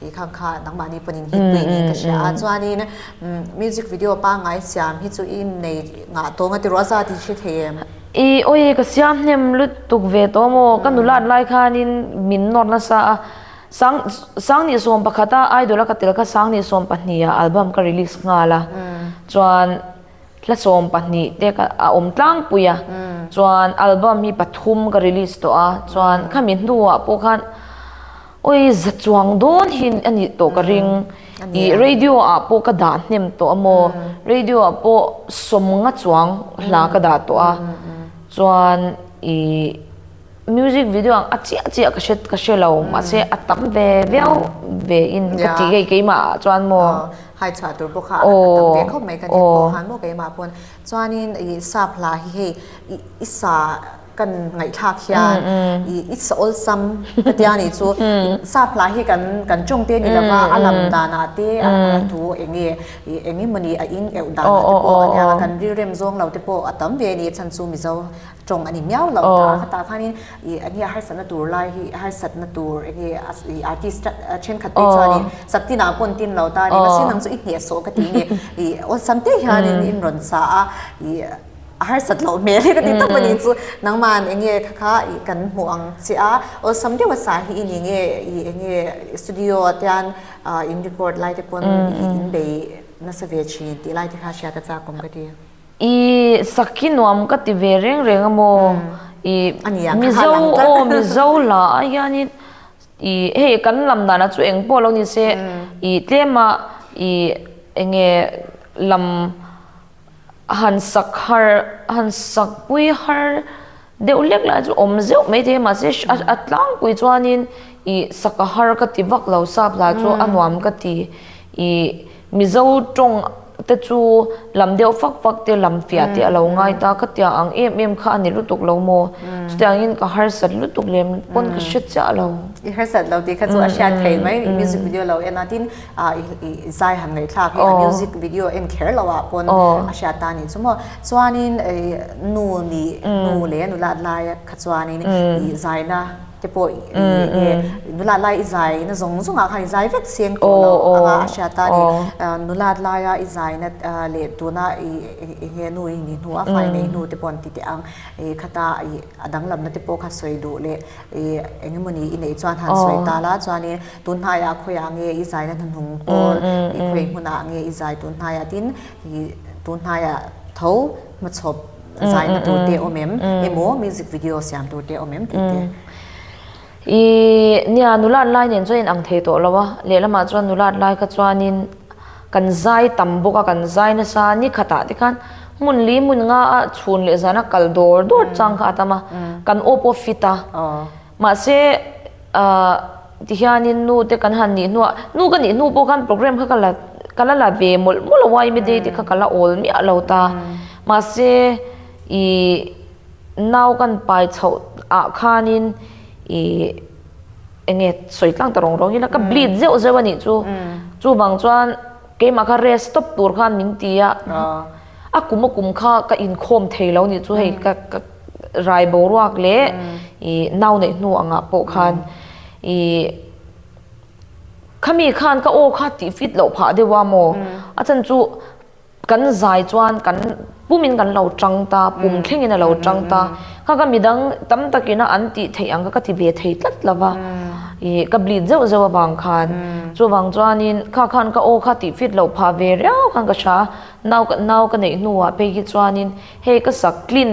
Speaker 1: He khan kha nangmahni panin hit pui niin ka hria a. Chuanin music video pangai siam hi chu i nei ngah tawnga ti ruah za tih hre thei em? I awii ka siam hnem lutuk ve tawm aw, ka nulat lai khanin min nawr nasa a. Sang Sang ni sawm pakhata idol a ka tel kha Sang ni sawm pahniha album ka release nghal a. Chuan Hla sawm pahnih te ka a awm tlangpui a, chuan album hi pathum ka release tawh a, chuan khami hnuah pawh khan awi za chuang dawn hi a nih tawh ka ring. I radio ah pawh ka dah hnem tawh a maw, radio ah pawh sawmnga chuang hla ka dah tawh a, chuan i. Music video ang a chiah chiah ka hre ka hre lo mahse a tam ve viau ve in ka tih hei keimah ah chuan maw hai chhuah tur bawk a a tam ve khawp mai ka ni pawh han maw keimah pawn chuanin i sap hla hi hei i i sa kan ngaihthlak hian i i sa awlsam ka tia a nih chu sap hla hi kan kan tawng te a ni lova a lam danah te a a tu eng nge i eng nge mawni a in auh danah te pawh ania kan rilrem zawng lo te pawh a tam ve a ni chhan chu mizo tawng a ni miau lo ta a khatah khanin i enge a harsatna tur lai hi harsatna tur enge i artist a thenkhat te chuanin saktina pawn tin lo ta ni masin ang chu i hniah sawh ka ti nge i awlsam te hianin in rawn sa a i a harsat lo hmel hi ka ti tak mani chu nangman enge kha kha i kan hmu ang che a awlsam deuh a sa hi i ni nge i enge studio atian in record lai te pawn in bei nasa ve thin tih lai te kha hria ta chak awm ka ti. I sakki nuam ka ti ve reng reng a maw i mizo aw mizo hla ah hian in i hei kan lam dan ah chu eng pawh lo nise i tlem a i eng nge lam han sak har han sak pui har Deuh lek lai chu awm zeuh mai thei mahse a tlangpui chuanin ih saka har ka ti vak lo sap hla chu a nuam ka ti ih mizo tawng te chu lam deuh fak fak te lam fiah te a lo ngai ta ka tia ang em em kha a ni lutuk lo maw chutah angin ka harsat lutuk lem pawn ka hre chiah lo. I harsat lo tih kha chu a hriat theih mai music video lo en a tin. a i zai han ngaithlak hi a music video a en kher loh ah pawn a hriat ta ni chu maw chuanin nu ni nu leh a nulat lai kha chuanin i zaina te pawh nge nulat lai i zaina zawng zawng ah khan i zai vek chiang tawh lo anga a hriat ta ni nulat lai a i zaina leh tuna i nge nu i ni hnu a fai nei hnu te pawh an ti teh ang khata i A danglamna te pawh kha sawi duh leh eng emaw ni i neih chuan han sawi ta la chuanin tun hnai ah khawiah nge i zai na hnahnung pawl i khawi hmun ah nge i zai tun hnai ah tin i tun hnai ah tho hma chhawp zai na tur te awm em emaw music video siam tur te awm em tih te. I nia nulat lai nen chuan in ang thei tawh lo a, lehlamah chuan nulat lai kha chuanin kan zai tam bawk a, kan zai nasa ni khatah te khan hmun li hmun nga a chhun leh zana kal dawr dawr chang kha a tam a, kan awp aw fit a, mahse ah tihianin nu te kan han nih hnuah, nu ka nih hnu pawh khan programme kha ka la ka la la ve mawlh mawlh a, Ymi day te kha ka la awl miah lo ta, mahse i. nau kan pai chhoh ah khan in i enge sawi tlang ta rong rong ila ka hmm. bleed zeu zeu ani chu hmm. chu bang chuan keima kha rest stop tur khan min ti a ah. a kum a kum kha ka in khom thei lo ni chu hei hmm. ka ka rai bo ruak le i nau nei hnu anga po khan i khami khan ka o kha ti fit lo pha dewa mo a chan chu Kan zai chuan kan pumin kan lo tang ta, pum thlengin a lo tang ta. Kha ka midang tam takina an tih theih ang kha ka ti ve thei tlat lo va. I ka bleed zeuh zeuh avang khan. Chuvang chuanin kha khan ka aw kha tih fit loh phah ve riau khan ka hria. Nau ka nau ka neih hnuah phei hi chuanin hei ka sak tlin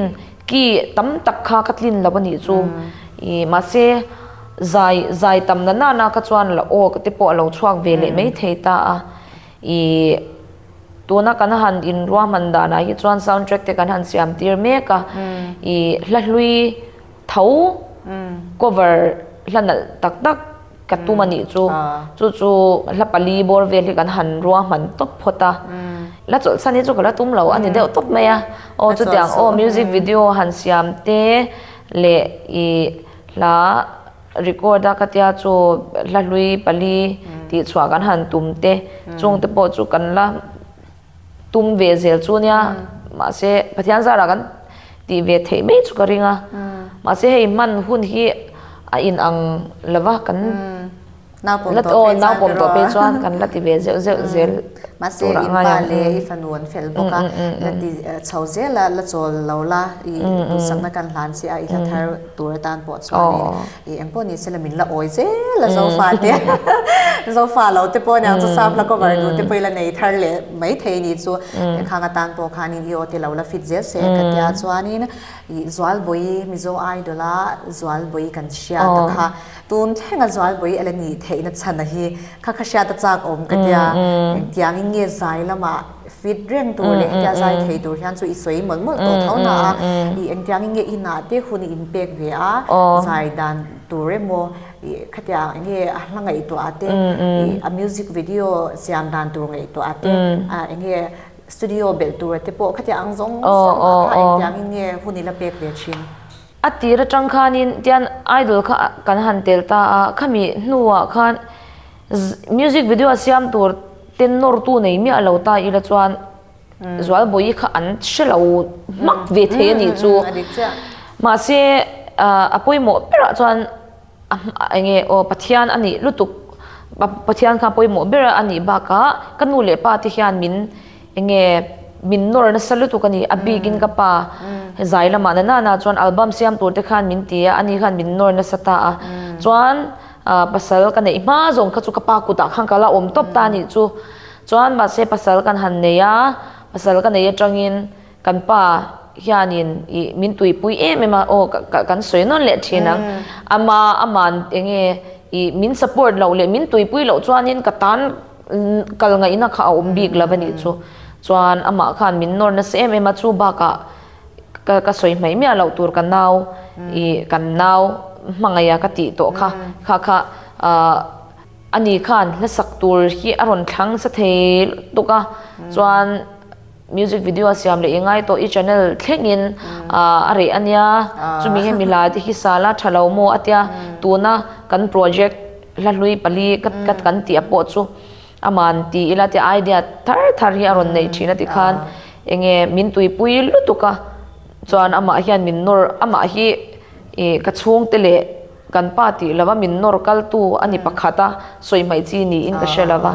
Speaker 1: ki tam tak kha ka tlin lo anih chu. I mahse zai zai tam na nana kha chuan la aw te pawh a lo chhuak ve leh mai thei ta a. Ih, tuna kan han inruahman danah hi chuan sound track te kan han siam tir mek a, ih hla hlui tho cover hla nalh tak tak ka tum a nih chu, chu chu hla pali bawr vel hi kan han ruahman tawp phawt a, hla chawlhsan hi chu ka la tum lo a ni deuh tawp mai a, aw chutiang aw music video han siam te leh ih hla. Record a ka tia chu hla hlui pali tih chhuah kan han tum te chung te pawh chu kan la tum ve zel chu nia mahse Pathian zara kan tih ve theih mai chu ka ring a mahse hei hman hun hi a inang lova kan Naupawm tawh pawh naupawm tawh pawh chuan kan la ti ve zeuh zeuh zel tur ah ngai ang e i fanu an fel bawk a la ti chho zel a la chawl lo la i duhsakna kan hlan si a i hla thar tur atan pawh chuan in i eng pawh ni se la min la awi zel a Zofa te Zofa lo te pawh aniang chu Safla cover duh te pawh i la nei thar leh mai thei a nih chu he khang atan pawh khan in i aw te lo la fit zel se ka tia chuan in i Zualbawihi Mizo Idol a Zualbawihi kan hria ta kha Tun thlenga Zualbawi a la ni theihna chhana hi kha kha hriata chak awm ka tia, engtiangin nge zai lama fit reng tur leh hetia zai thei tur hian chu i sawi mawlh mawlh tawh tho hna a, i engtiangin nge i nahte hun i inpek ve a, zai dan tur emaw ih khatia nge a hla ngaihtuah ah te, ih a music video siam dan tur ngaihtuah ah te, a enge studio belh tur te pawh khatia ang zawng zawng ah kha engtiangin nge hun i la pek ve thin. A tir atang khanin tian idol kha kan han tel ta a, khami hnuah khan music video a siam tur ten nawrtu nei miah lo ta ila chuan Zualbawihi kha an hre lo hmak ve thei a nih chu. Mahse a pawimawh berah chuan. A eng e? Aw, Pathian a nih lutuk. Pathian kha pawimawh ber a nih bakah ka nu leh pa te hian min eng nge min nawr nasa lutuk a ni. A bikin ka pa zai lamah na nana chuan album siam tur te khan min ti a, ani khan min nawr nasa ta a. Chuan pasal ka neih hma zawng kha chu ka pa kutah khan ka la awm tawp ta a nih chu. Chuan mahse pasal kan han nei a, pasal ka nei atangin. Kan pa hianin i min tuipui em em a, aw ka kan sawi nawn leh thin ang, ama ama'n enge i min support loh leh min tuipui loh chuanin ka tan kal ngaihna kha a awm bik lo a nih chu. Chuan amah khan min nawr nasa em em a, chu bakah ka sawi hmaih miah loh tur ka nau i kan nau hmangaih a ka tih tawh kha kha kha ani khan hlasak tur hi a rawn thlangsa thei lutuk a, chuan. Music video a siam leh i ngai tawh i channel thlengin a reh a nia. Chumi hi milai te hi sala tha lo maw a tia. Tuna kan project hla hlui pali kat kan tih a pawh chu a man ti ila tia idea thar thar hi a rawn neih thin a ti khan enge min tuipui lutuk a. Chuan amah hian min nawr amah hi i ka chhungte leh kan pa tih lova min nawr kaltu a ni pakhat a sawi hmai chi niin ka hre lova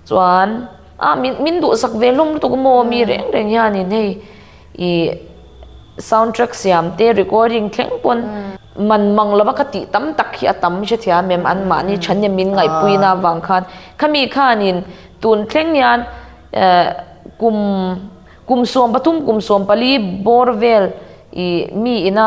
Speaker 1: chuan. A, min min duhsak ve hlawm lutuk a maw mi reng reng hianin hei i sound track siam te recording thleng pawn man mang lova kha tih tam tak hi a tam a hre thei a mem an mahni chhan nen min ngaihpuina vang khan khami khanin tun thleng hian kum kum sawm pathum kum sawm pali bawr vel i mi ina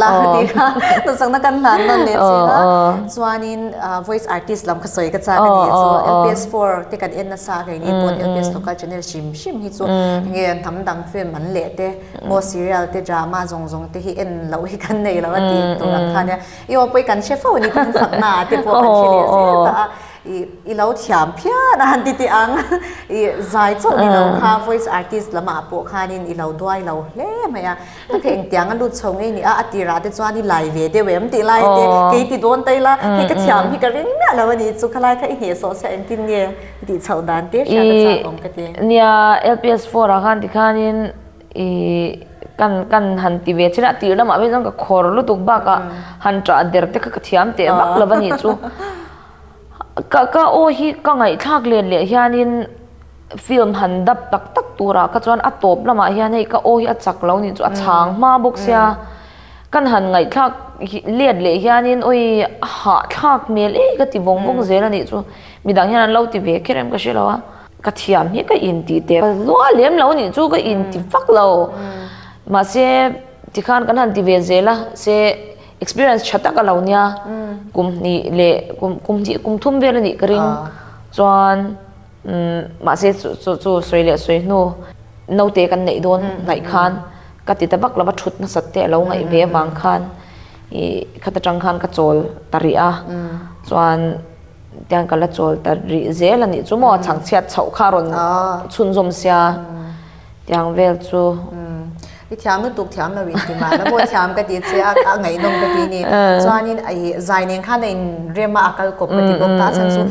Speaker 1: la ti kha tu sang na kan hlan non le chi la chuanin voice artist lam kha soi ka chak ani chu lps 4 te kan en na sa kai ni pon lps local channel hrim hrim hi chu nge an tham dang film an leh te mo serial te drama zong zong te hi en lo hi kan nei lo a ti tur ang khan ya i o poi kan hre fo ni kan sak na te pawh kan hre leh zel ta a i i lo thiam phian a han ti ti ang i zai chauh ni lo kha voice artist lamah pawh khanin i lo duai lo hle mai a Hei kha engtianga lut chho ngei nia a tirah te chuan i lai ve deuh em tih lai te kei ti dawn ta ila hei ka thiam hi ka ring miah lo a ni chu khalai kha i nghehsawh chhia engtin nge i tih chhoh dan tir hria ka chak awm ka ti. Nia lps four ah khan tikhanin i kan kan han ti ve chhin a tir lamah pawh hi chuan ka khawr lutuk bakah han ṭah der te kha ka thiam teh vak lo a ni chu ka ka aw hi ka ngaihthlak len leh hianin Film han dap tak tak turah kha chuan a tawp lamah hian hei ka aw hi a chak lo nih chu a chhang hma bawk sia. Kan han ngaihthlak liat leh hianin awi a hahthlak hmel e ka ti vawng vawng zel a nih chu mi dang hian an lo ti ve kher em ka hre lo a. Ka thiam hi ka inti teh zua lem lo nih chu ka inti vak lo. Mahse tikhan kan han ti ve zel a se experience tha tak a lo nia kum hnih leh kum kum hnih kum thum vel a nih ka ring chuan. Mahse, chu chu sawi leh sawi hnu naute kan neih dawn ngaih khan ka ti ta vak lova thut nasat te a lo ngaih ve vang khan i khat atang khan ka chawl ta rih a chuan tiang ka la chawl ta rih zel a nih chu maw a chhang chhiat chhoh kha a rawn chhunzawm sia. tiang vel chu. I thiam lutuk thiam lo in ti mah la maw thiam ka ti che a a ngaihnawm ka ti ni chuanin a i zainen khan a inrem a a kal kawp ka ti bawk ta a chhan chu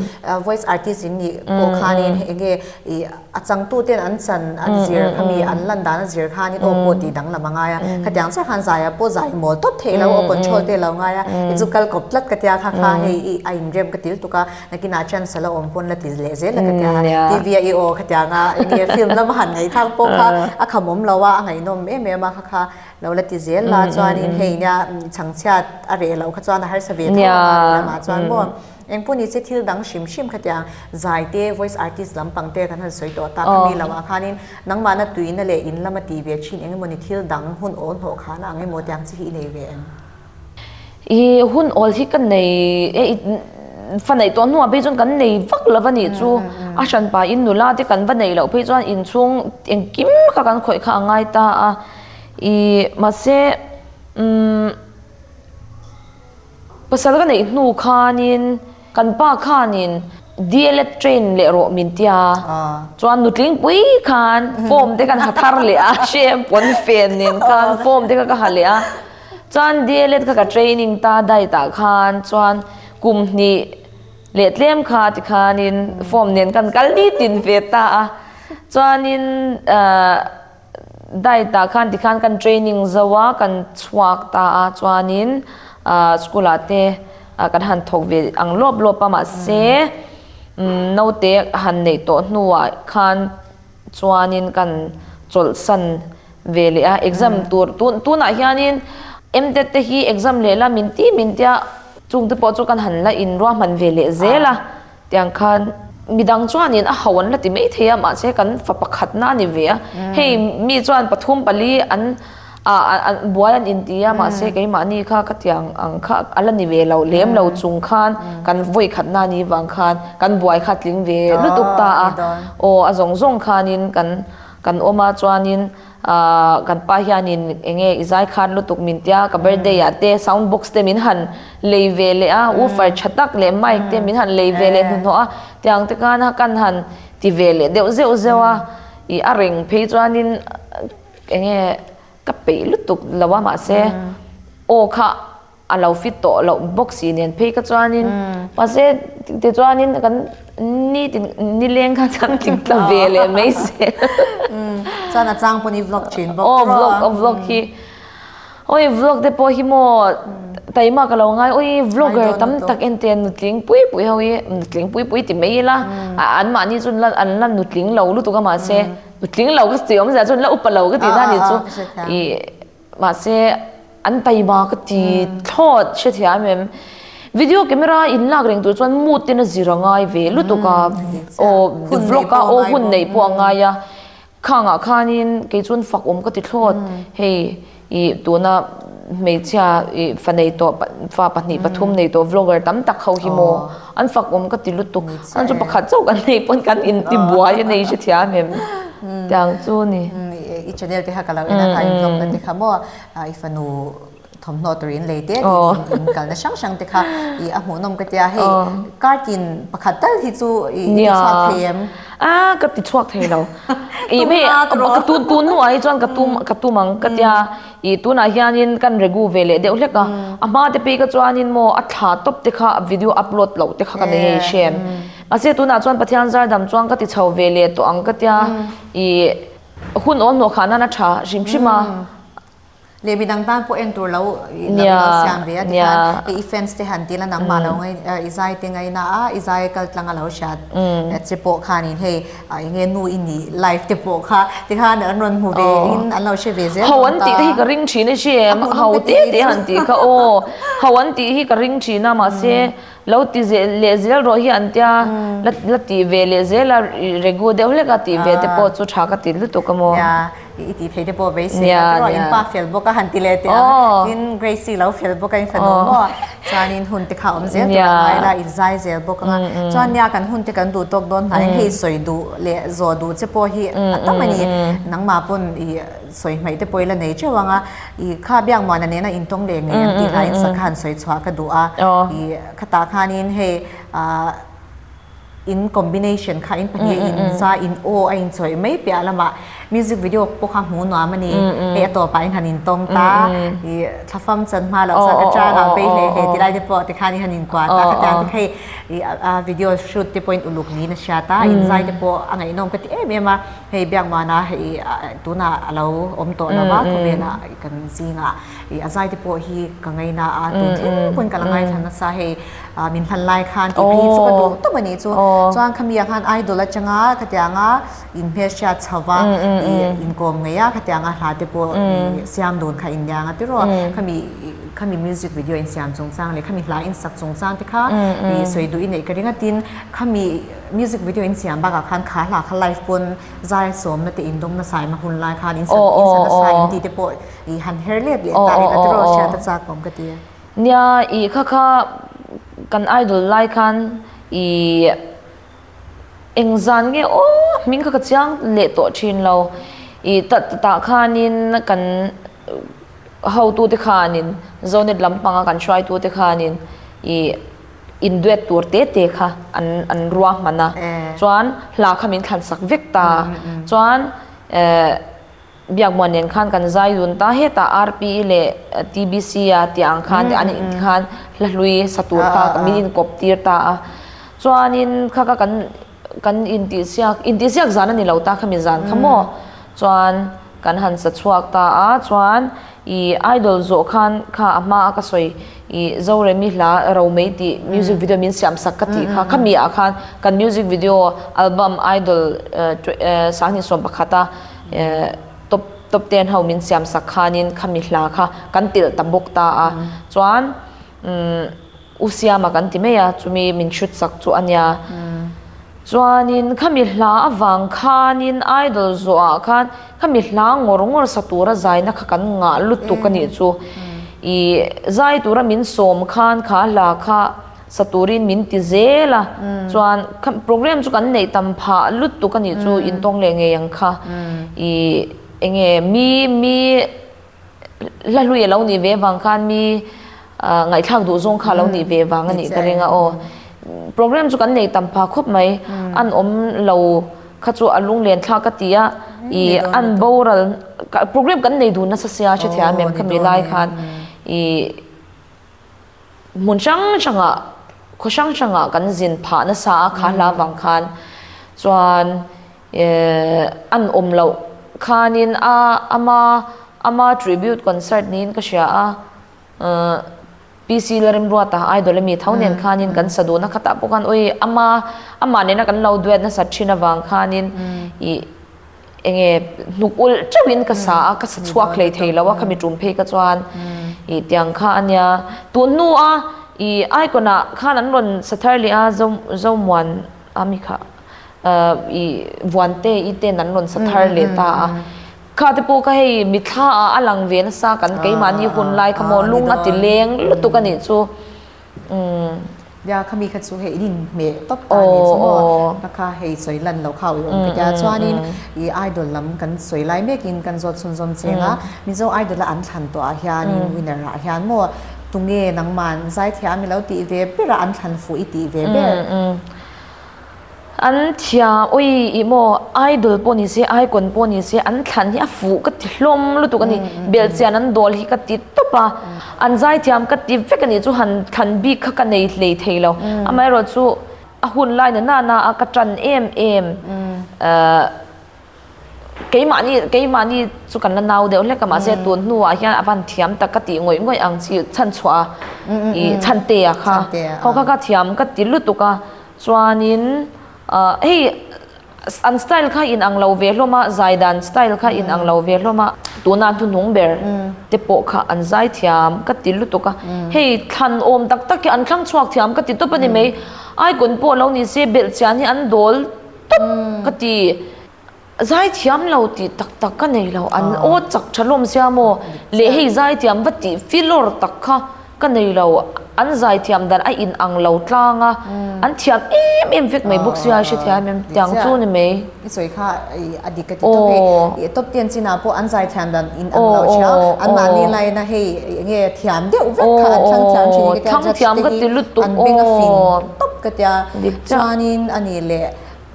Speaker 1: voice artist in nih pawh khanin hei enge i a changtu ten an chan an zir kha mi an lan dan a zir khanin aw pawh tih dang lam a ngai a khatiang chiah khan zai ah pawh zai mawl tawp theih lo aw control te lo ngai a i chu kal kawp tlat ka tia kha kha hei i a inrem ka ti lutuk a. Nakinah chuan sala awm pawn la ti leh zel a ka tia a, TV a i aw ka tia nga eng nge film lama han ngaithlang pawh kha a kham awm lo a, a ngaihnawm em em a kha kha lo la ti zel la chuanin hei nia chhangchhiat a reh loh kha chuan a harsa ve tho anga a nih lamah chuan maw eng pawh ni che thil dang hrim hrim kha tia zai te voice artist lam pang te kan han sawi tawh ta khami lo ah khanin nangmahna tuina leh in lama ti ve thin eng emaw ni thil dang hun aw hnawh khana ang emaw tiang chi hi i nei ve em? I hun awl hi ka nei e, i faneih tawh hnungah phei chuan kan nei vak lova nih chu a hranpa in nula te kan va neih loh phei chuan inchhung engkim kha kan khawih kha a ngai ta a, i mahse umm pasal ka neih hnu khanin. Kan pa khan in DLED train leh rawh min tia chuan nutling pui khan form te kan ha thar leh a hriam pawn fen nen khan form te kha ka ha leh a chuan DLED kha ka training ta dai ta khan chuan kum hnih leh tlem kha ti khan in form nen kan kal nitin ve ta a chuan in ahh Diet ah khan tikhan kan training zo a, kan chhuak ta a chuanin school ah te kan han thawk ve ang lawp lawp a, mahse naute han neih tawh hnuah khan chuanin kan chawlhsan ve leh a, exam tur tunah hianin MDET te hi exam leh la min ti min tia chungte pawh chu kan han la inruahman ve leh zel a. Tiang khan midang chuanin a hau an la ti mai thei a, mahse kan fa pakhatna a ni ve a. Hei mi chuan pathum pali an buai an inti a, mahse keimahni kha ka tiang ang kha a la ni ve lo, lem lo chung khan kan vawi khatna a nih vang khan kan buai kha a tling ve lutuk ta a. Aw, a zawng zawng khanin kan awma chuanin. Ahh kan pa hianin eng nge i zai khan lutuk min tia ka birthday ah te sound box te min han lei ve leh a woofer tha tak leh mic te min han lei ve leh hnuhnawh a tiang te khan a kan han ti ve leh deuh zeuh zeuh a ih a reng phei chuanin eng nge ka peih lutuk lo a mahse aw kha a lo fit tawh loh bawk si nen phei kha chuanin mahse tichuanin kan nitin nileng kha kan tling ta ve leh mai se chuan a chang pawh ni vlog thin bawk aw vlog a vlog hi oi vlog te pawh hi maw taima ka lo ngai oi vlogger tam tak ente an nutling pui pui ho i nutling pui pui ti mai ila an mahni chu an la nutling lo lutuk a mahse nutling lo ka ti awmzia chuan la up a lo ka ti ta ni chu i Mahse an paima ka ti thlawt hrethiam em em. Video camera in lak reng tur chuan mood ten a zir a ngai ve lutuk a. Aw vlog a aw hun neih pawh a ngai a. Khangah khanin kei chuan fakawm ka ti thlawt. Hei i tuna hmeichhia fa nei tawh fa pahnih pathum nei tawh vlogger tam tak ho hi maw. An fak awm ka ti lutuk. An chu pakhat chauh kan nei pawn kan inti buai a nei hre thiam em tiang chu a ni. I channel te kha ka lo en a kha intlawm ka ti kha maw i fanu thawmhnaw tur in lei te tih in kalna hrang hrang te kha i a hmuhnawm ka tia hei card in pakhat tal hi chu i ti chhuak thei em? A ka ti chhuak thei lo. Tumna a tun a. Ka tun tun hnuah hi chuan ka tum ka tum ang ka tia. Ih tunah hianin kan regu ve leh deuh hlek a, a hma te pi kha chuanin maw a thla tawp te kha a video upload loh te kha ka nei a i hriam. Mahse tunah chuan Pathian zardam chuan ka ti chho ve leh tawh ang ka tia, ih hun aw hnawhkhah nan a tha hrim hrim a. Leh midang tan pawh en tur lo siam ve a tikhan hei i fans te han ti lan ang mahlo i zai te ngaina a i zai kal tlang a lo hria che pawh khanin hei. Ai nge nu i nih live te pawh kha tikhan an rawn hmu ve in an lo hre ve zel dawn ta. Ho an tih te hi ka ring thin a chem ho te te han tih kha aw ho an tih hi ka ring thin a mahse lo ti zel leh zel rawh hi an tia la la ti ve leh zel a regu deuh hlek a tih ve te pawh chu tha ka ti lutuk a maw. i tih theite pawh vei si a nia in pa fel bawk a han ti leh teh ang tin grace hi lo fel bawk a in fanu maw a chuan in hun te kha awm zel tur an ai la in zai zel bawk ang a chuan nia kan hun te kan duh tawk dawn hnai hei sawi duh leh zawh duh che pawh hi a tam a ni nangma pawn i sawi hmaih te pawh i la nei teuh ang a i kha biak muana nena in tawng leh ngei ang tih hlai in sak kha han sawi chhuah ka duh a i khatah khan in hei a in combination kha in pahnih mm, mm, in sa mm. in o a in choi mai pia lama music video po kha mu no amani mm, e ato pa in han in tong ta i thafam chan ma la sa ka cha la be he he tilai de po te khan i han in kwa ta ka ta te khai i a video shoot te point uluk ni na sha ta in zai te po angai nom ka ti em em a hei biak ma na hei tuna alo om to lawa ko ve na kan zinga I a zaite pawh hi ka ngei na a tun thleng pawn ka la ngai thla nasa hei min hlan lai khan tih hi chu ka duang tawp a ni chu chuan kha mia khan idol atanga ka ti anga in hmeichhia chho va i in kawm ngei a ka ti anga hla te pawh siam dun kha in nia ang atirua kha mi kha mi music video in siam chung chang leh kha mi hla in sak chung chang te kha i sawi duh i neih ka ringa tin kha mi music video in siam bakah khan kha hla kha live pawn zai sawmna te in dawmna saima hun lai khan in sak in sak nasa in tih te pawh ih han her let leh ta in ati rawh hriat a chak awm ka ti a. Nia ih kha kha kan idol lai khan ih eng zan nge aw hming kha ka chiang leh tawh thin lo ih ta tah khan in kan ho tu te khan in zonet lam panga kan hruai tu te khan in ih in duet tur te te kha an an ruah hman a chuan hla kha min thlan sak vek ta chuan eh Biakbuan nen khan kan zai dun ta heta RPE leh TBC a tia ang khan an in khan hla hlui sa tur kha kan min inkawp tir ta a. Chuanin kha kha kan kan intihsiak intihsiak zan a ni lo ta kha mi zan kha maw chuan kan han sa chhuak ta a chuan i idol zawh khan kha a hma a ka sawi i Zoremi hla ro mai tih music video min siam sak ka tih kha khami ah khan kan music video album idol sahnihsawm pakhat a Top top ten ho min siam sak khanin khami hla kha kan tel ta bawk ta a chuan u siama kan ti mai a chumi min hrit sak chu a nia chuanin khami hla avang khanin idol zawh ah khan khami hla ngawr ngawr sa tura zaina kha kan ngah lutuk a nih chu i zai tura min sawm khan kha hla kha sa turin min ti zel a, chuan kha programme chu kan neih tam phah lutuk a nih chu intawng leh ngei ang kha, i enge mi mi hla hlui a lo nih ve vang khan mi ngaihthlak duh zawng kha a lo nih ve vang a nih ka ring a aw. Programme chu kan nei tam pha khawp mai, an awm lo kha chu a lunglen thla ka ti a, i an boral programme kan nei dun nasa sia a hre thei a mem kha mi lai khan i. Hmun hrang hrangah, khaw hrang hrangah kan zin phah nasa a kha hla vang khan chuan an awm loh khanin a ama ama tribute concert niin ka hria a, PC la Remruata idol ami tho nen khanin kan sa duhna khatah pawh khan awi ama amah nena kan lo duat nasa thin avang khanin i enge hnuk ul teuhin ka sa a ka sa chhuak hlei thei lo a khami tum phei ka chuan i tiang kha ania tu hnu a i ai kona khan an rawn sa thar leh a zo zomuan a mi kha i vuan te i ten an rawn sa thar leh ta a kha te pawh ka hei mi thla a a lang ve nasa kan keimah ni hun lai kha maw lung a ti leng lutuk a nih chu Nia, khami kha chu hei rin hmeh tawp ta nen chu maw, ka kha hei sawi lan lo kha awih awm ka tia chuanin i idol lam kan sawi lai mekin kan zawt chhunzawm cheng a, Mizo Idol a an thlan tawhah hianin winner ah hian maw tunge nangman Zaithiah a milo tih ve ber a an thlan fuh i tih ve ber. An chhia awi i maw, idol pawh ni se, icon pawh ni se, an thlan hi a fuh ka ti hlawm lutuk a ni. Belchian an dawl hi ka ti tawp a, an zai thiam ka ti vek a nih chu han thlan bik kha ka nei hlei thei lo. Amaherawhchu a hun laina nana a ka tan em em. Keimahni keimahni chu kan la nau deuh hlek a, mahse tun hnuah hian a van thiam tak ka tih ngawih ngawih ang chi chhanchhuah a i chhante a kha khaw kha ka thiam ka ti lutuk a chuanin hei an style kha in ang lo ve hlawm a zai dan style kha in ang lo ve hlawm a tuna hnuhnung ber te pawh kha an zai thiam ka ti lutuk a hei thlan awm tak tak hi an thlang chhuak thiam ka ti tawp a ni mai aikulh pawh lo ni se belhchian hi an dawl tawp ka ti. Zai thiam lo tih tak tak ka nei lo, an aw chak tha lawm sia maw leh hei zai thiam va tih fi lawr tak kha ka nei lo, an zai thiam dan a in ang lo tlang a, an thiam em em vek mai bawk sia a hrethiam em tiang chu ni mai. I sawi kha a dik ka ti tawp e, i tawp tian chinah pawh an zai thiam dan in ang lo ṭhia, an mahni laina hei enge thiam deuh vek kha an thlang thiam ṭhin ka tia judge te hi an beng a fin. tawp ka tia dik chah chuanin a nih leh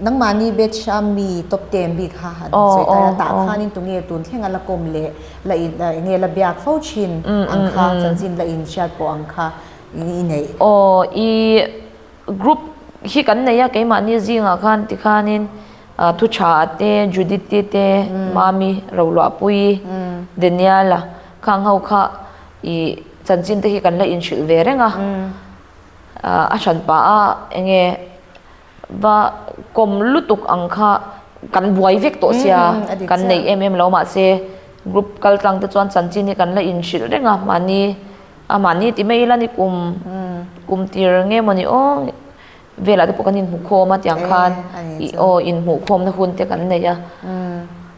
Speaker 1: nangmahni batch a mi top ten bik kha an aww sawi taia aww tah khanin tunge tun thlenga la kawm leh la in enge la biak fo thin ang kha chanchin la in hriat pawh ang kha i neih aww i group hi kan nei a keimahni zingah khan tikhanin thuchhaa te judity te mami roluahpui daniala khang ho kha i chanchin te hi kan la in hrilh ve reng a. A hran pa a, enge va kawm lutuk ang kha kan buai vek tawh sia, kan neih em em lo mahse group kal tlang te chuan chanchin hi kan la inhrilh reng a, mahni a mahni ti mai ila ni kum kum tir nge maw ni aw velah te pawh kan inhmu khawm a tiang khan aw inhmuh khawmna hun te kan nei a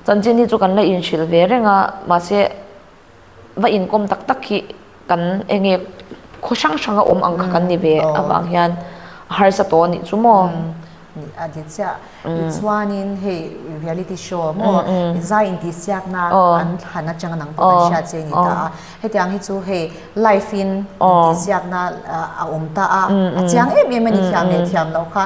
Speaker 1: chanchin hi chu kan la inhrilh ve reng a mahse va inkawm tak tak hi kan enge khaw hrang hrang a awm ang kha kan ni ve avang hian a harsa tawh anih chu maw a ti chiah tichuanin hei reality show maw zai intihsiak na an han atang ang pawh kan hriat che ani ta a hetiang hi chu hei life in intihsiak na a awm ta a a chiang em em ani thiam leh thiam lo kha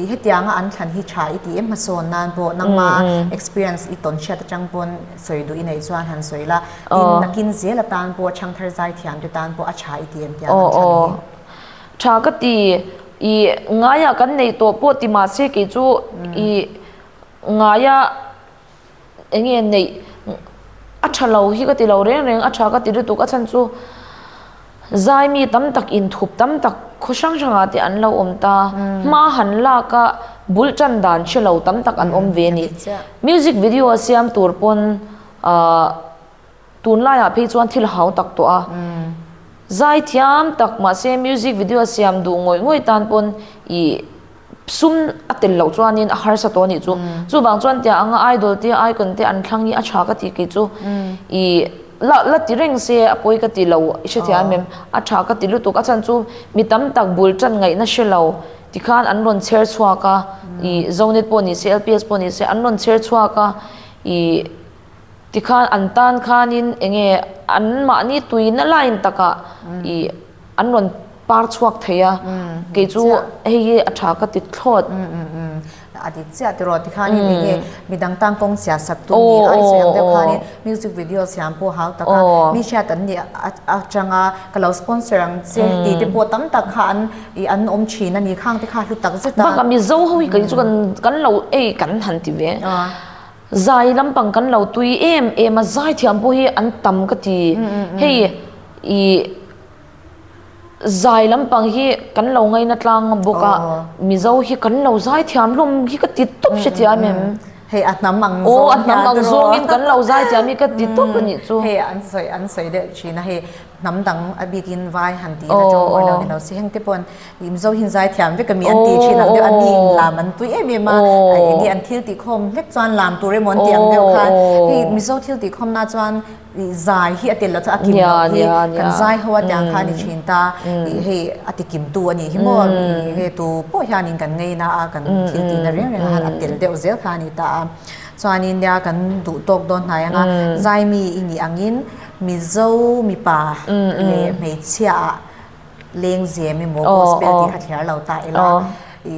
Speaker 1: i hetianga an thlan hi tha i ti em hmasawn nan pawh nangma experience i tawn hriat atang pawn Sawi duh i neih chuan han sawi la, tin nakin zel atan pawh Chhangthar zai thiamte tan pawh a tha i ti em tiang an tha ni hi? Tha ka ti i ngaia kan neih tawh pawh ti mah se kei chu i ngaia eng nge neih a tha lo hi ka ti lo reng reng a tha ka ti lutuk a chhan chu. Zai mi tam tak in thup tam tak khaw hrang hrangah te an lo awm ta. Hma han lak a, bul tan dan hre lo tam tak an awm ve a ni. Music video a siam tur pawn tun laiah phei chuan thil hau tak tawh a. Zai thiam tak mahse music video a siam duh ngawih ngawih tan pawn i Sum a tel loh chuanin a harsa tawh a nih chu. Chuvang chuan tia anga idol te icon te an thlang hi a tha ka ti kei chu. I la la ti reng se a pawi ka ti lo i hrethiam em em. A tha ka ti lutuk a chhan chu mi tam tak bul tan ngaihna hre lo tikhan an rawn chher chhuak a. I Zonet pawh ni se LPS pawh ni se an rawn chher chhuak a. I tikhan an tan khanin enge anmahni tuina lain takah i. an rawn par chhuak thei a kei chu hei hi a tha ka ti thlawt a ti chiah tiraw ti khan in enge mi dang tang kawng chhia sak tu ni ai sawi ang deuh khan in music video siam pawh hau taka mi hriat an nih atanga ka lo sponsor ang che ti te pawh tam tak kha an i an awm thin a ni khang te kha hlu tak zet a bang a mizo ho hi kei chu kan kan lo ei kan han ti ve. Zai lampang kan lo tui em em a, zai thiam pawh hi an tam ka ti. Hei i zai lampang hi kan lo ngaina tlang bawk a, Mizo hi kan lo zai thiam hlawm hi ka ti tawp hre tia em em. Hei a hnam ang zawng hian. Aw a hnam ang zawng in kan lo zai thiam hi ka ti tawp a nih chu. Hei an sawi an sawi deuh thin a, hei hnam dang a bikin vai han tihna tawng awilo ni lo si. Hengte pawn. Mizo hian zai thiam vek a mi an tih thin ang deuh a ni in lam an pui em em a enge an thil tih khawm hlek chuan lam tur emaw an tih ang deuh khan hei Mizo thil tih khawm na chuan zai hi a tel lo chuan a kim lo hi kan zai ho a tiang khan a ni thin ta hei a ti kim tu a ni hi maw hei tu pawh hian in kan ngei na a kan thil tih na riang riang ah hian a tel deuh zel khan a ni ta a chuan in nia kan duh tawk dawn hnai anga zai mi i nih ang in Mizo mipa leh hmeichhia ah leng ziam emaw gospel tih kha thliar lo ta ila i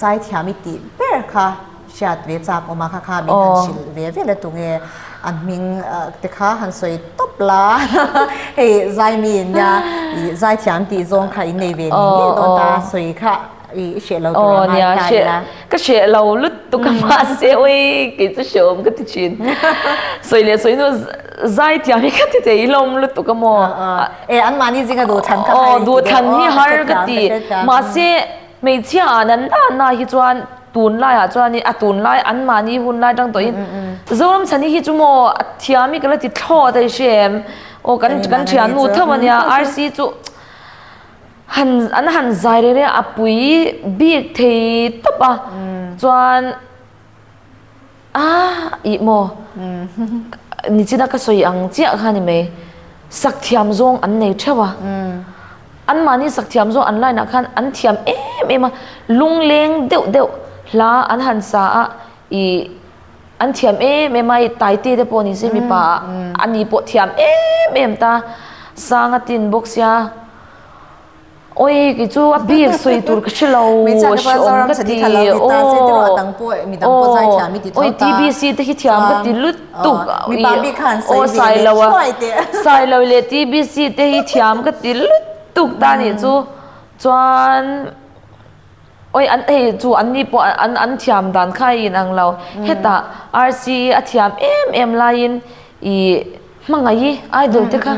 Speaker 1: zaithiam i tih ber kha hriat ve chak awm a kha kha min han hrilh ve vel a tu nge an hming te kha han sawi tawp la hei zaimi nia zaithiam tih zawng kha in nei ve ni ngei dawn ta sawi kha I hreh lo tur ang a i hnai in a. Ka hreh lo lut tuk a mahse awii kei chu hreh awm ka ti thin. Sawi leh sawi nu zai tiang hi ka ti thei i lawm lut tuk a maw. E an mahni zinga duhthlan kha har i ti deuh. Duhthlan hi har ka ti. Mahse hmeichhia an an danah hi chuan tunlai ah chuan i a tunlai an mahni hun lai tang tawh in Zoram chhan hi hi chu maw a thiam i ka la ti thlawt a i hre em. Aw kan kan thiannu theuh a nia arsi chu. Han an han zai reng reng a a pui bik thei tawp a chuan aah ih maw nichina ka sawi ang chiah kha ni mai sakthiam zawng an nei theuh a an mahni sakthiam zawng an line ah khan an thiam em em a lungleng deuh deuh hla an han sa a ih. An thiam em em a, i Taite te pawh ni se mipa a ni pawh thiam em em ta. Sanga tin bawk sia. Awi kei chu a bik sawi tur ka hre lo a hreawm ka ti aw aw awi TBC te hi thiam ka ti lutuk aw sai lo a sai lo leh TBC te hi thiam ka ti lutuk ta nih chu chuan. Awih an ei chu an ni pawh an an thiam dan khai in ang lo. Hetah RCE a thiam em em laiin i hmangaih i idol te kha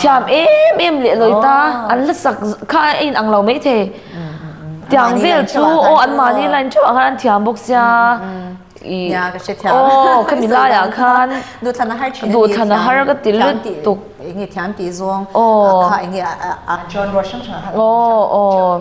Speaker 1: thiam em em leh lawi ta an la sak kha a in ang lo maithei. Tiang vel chu aw an mahni line theuh ah khan an thiam bawk sia i aw khami lai ah khan duhthlan a har ka ti lutuk. Aw aw.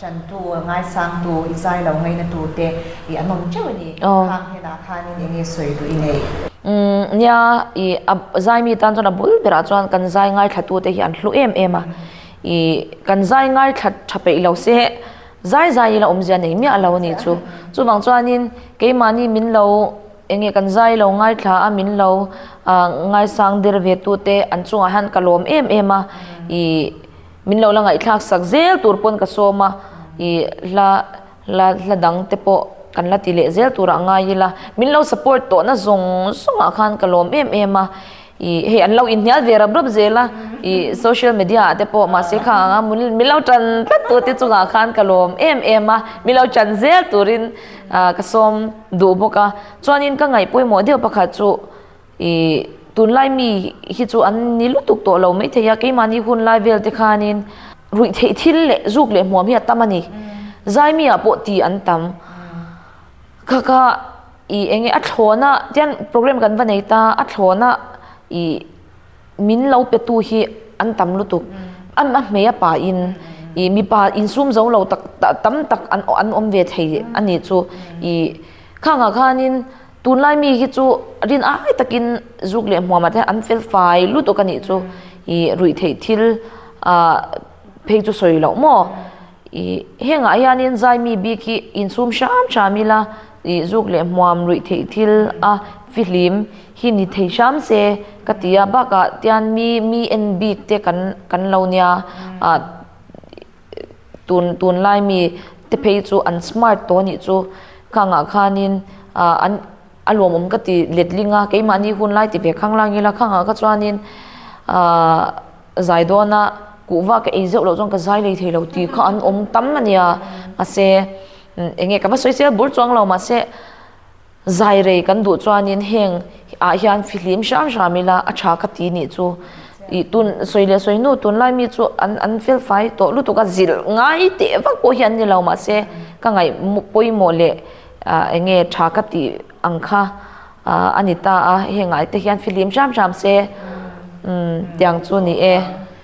Speaker 1: Chantu, Ngaisangtu, i zai lo ngaina tur te i a nawm teuh a ni. Khang Hena khanin eng nge sawi duh i nei? Umm, nia, i a zai mi tan chuan a bul berah chuan kan zai ngaithlattu te hi an hlu em em a. I kan zai ngaithlat tha peih lo se heh, zai zai ila awmzia nei miah lo a nih chu. Chuvang chuanin keimahni min lo eng nge kan zai lo ngaithla a min lo ngaisang der ve tu te an chungah hian ka lawm em em a. I Min lo la ngaihthlak sak zel tur pawn ka sawm a, ih hla hla hla dang te pawh kan la ti leh zel turah ngai ila min lo support tawhna zawng zawngah khan ka lawm em em a, ih hei an lo inhnial ve rap rap zel a, ih social media ah te pawh mahse kha ang a min lo tan tlat tur te chungah khan ka lawm em em a, min lo tan zel turin ka sawm duh bawk a, chuanin ka ngaih pawimawh deuh pakhat chu. Ih, tunlai mi hi chu an ni lutuk tawh lo mai thei a, keimahni hunlai velte khanin ruih theih thil leh zuk leh hmuam hi a tam a ni. Zai miah pawh ti an tam. Kha kha, ih, enge a thlawna, tian programme kan va nei ta, a thlawna, ih, min lo petu hi an tam lutuk. A a hmeia pahin, ih, mipa insum zo lo tak tam tak an awm ve thei a nih chu. Ih, khangah khanin. Tunlai mi hi chu rin ai takin zuk leh hmuama te an fel fai lutuk a nih chu i ruih theih thil a phei chu sawi loh maw i hengah hianin zai mi bik hi insum hram hram ila i zuk leh hmuam ruih theih thil a fihlim hi ni thei hram se ka tia bakah tian mi mi en bik te kan kan lo nia a tun tunlai mi te phei chu an smart tawh a nih chu ka ang ah khan in ah an a lawmawm ka ti let ding a keimahni hun lai ti ve khang lang ila ka ang ah kha chuan in ah zai dawn a kuh va ka ei zeuh loh chuan ka zai lei thei lo ti kha an awm tam a nia mahse eng nge ka va sawi sia bur chuang lo mahse Zai rei kan duh chuanin heng ah hian fihlim hram hram ila a tha ka ti nih chu i tun sawi leh sawi nu tunlai mi chu an an fel fai tawh lutuk a zilh ngai teh vak pawh hian nilo mahse ka ngaih pawimawh leh ah eng nge tha ka tih ang kha ah ani ta a heng ah te hian fihlim hram hram se umm tiang chu ni e.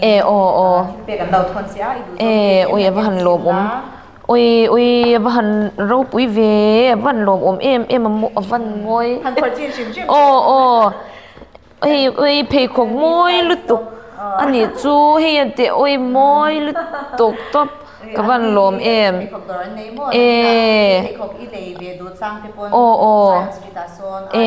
Speaker 1: E aw aw e ui a va han lawm awm ui ui a va han ropui ve a va han lawm awm em em a a va han ngawi aw aw hei ui pheikhawk mawi lutuk a nih chu hei a teh awi mawi lutuk tawp ka va han lawm em e aw aw e.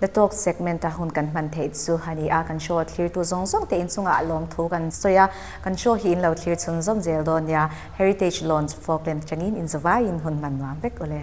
Speaker 1: Hnathawk segment a hun kan hman theih chu a ni a, kan show a thlirtu zawng zawng te inchungah a lawm thu kan sawi a, kan show hi in lo thlir chhun zawm zel dawn nia, Heritage Lawns Folkland atangin inzavaiin hun hman nuam vek u le.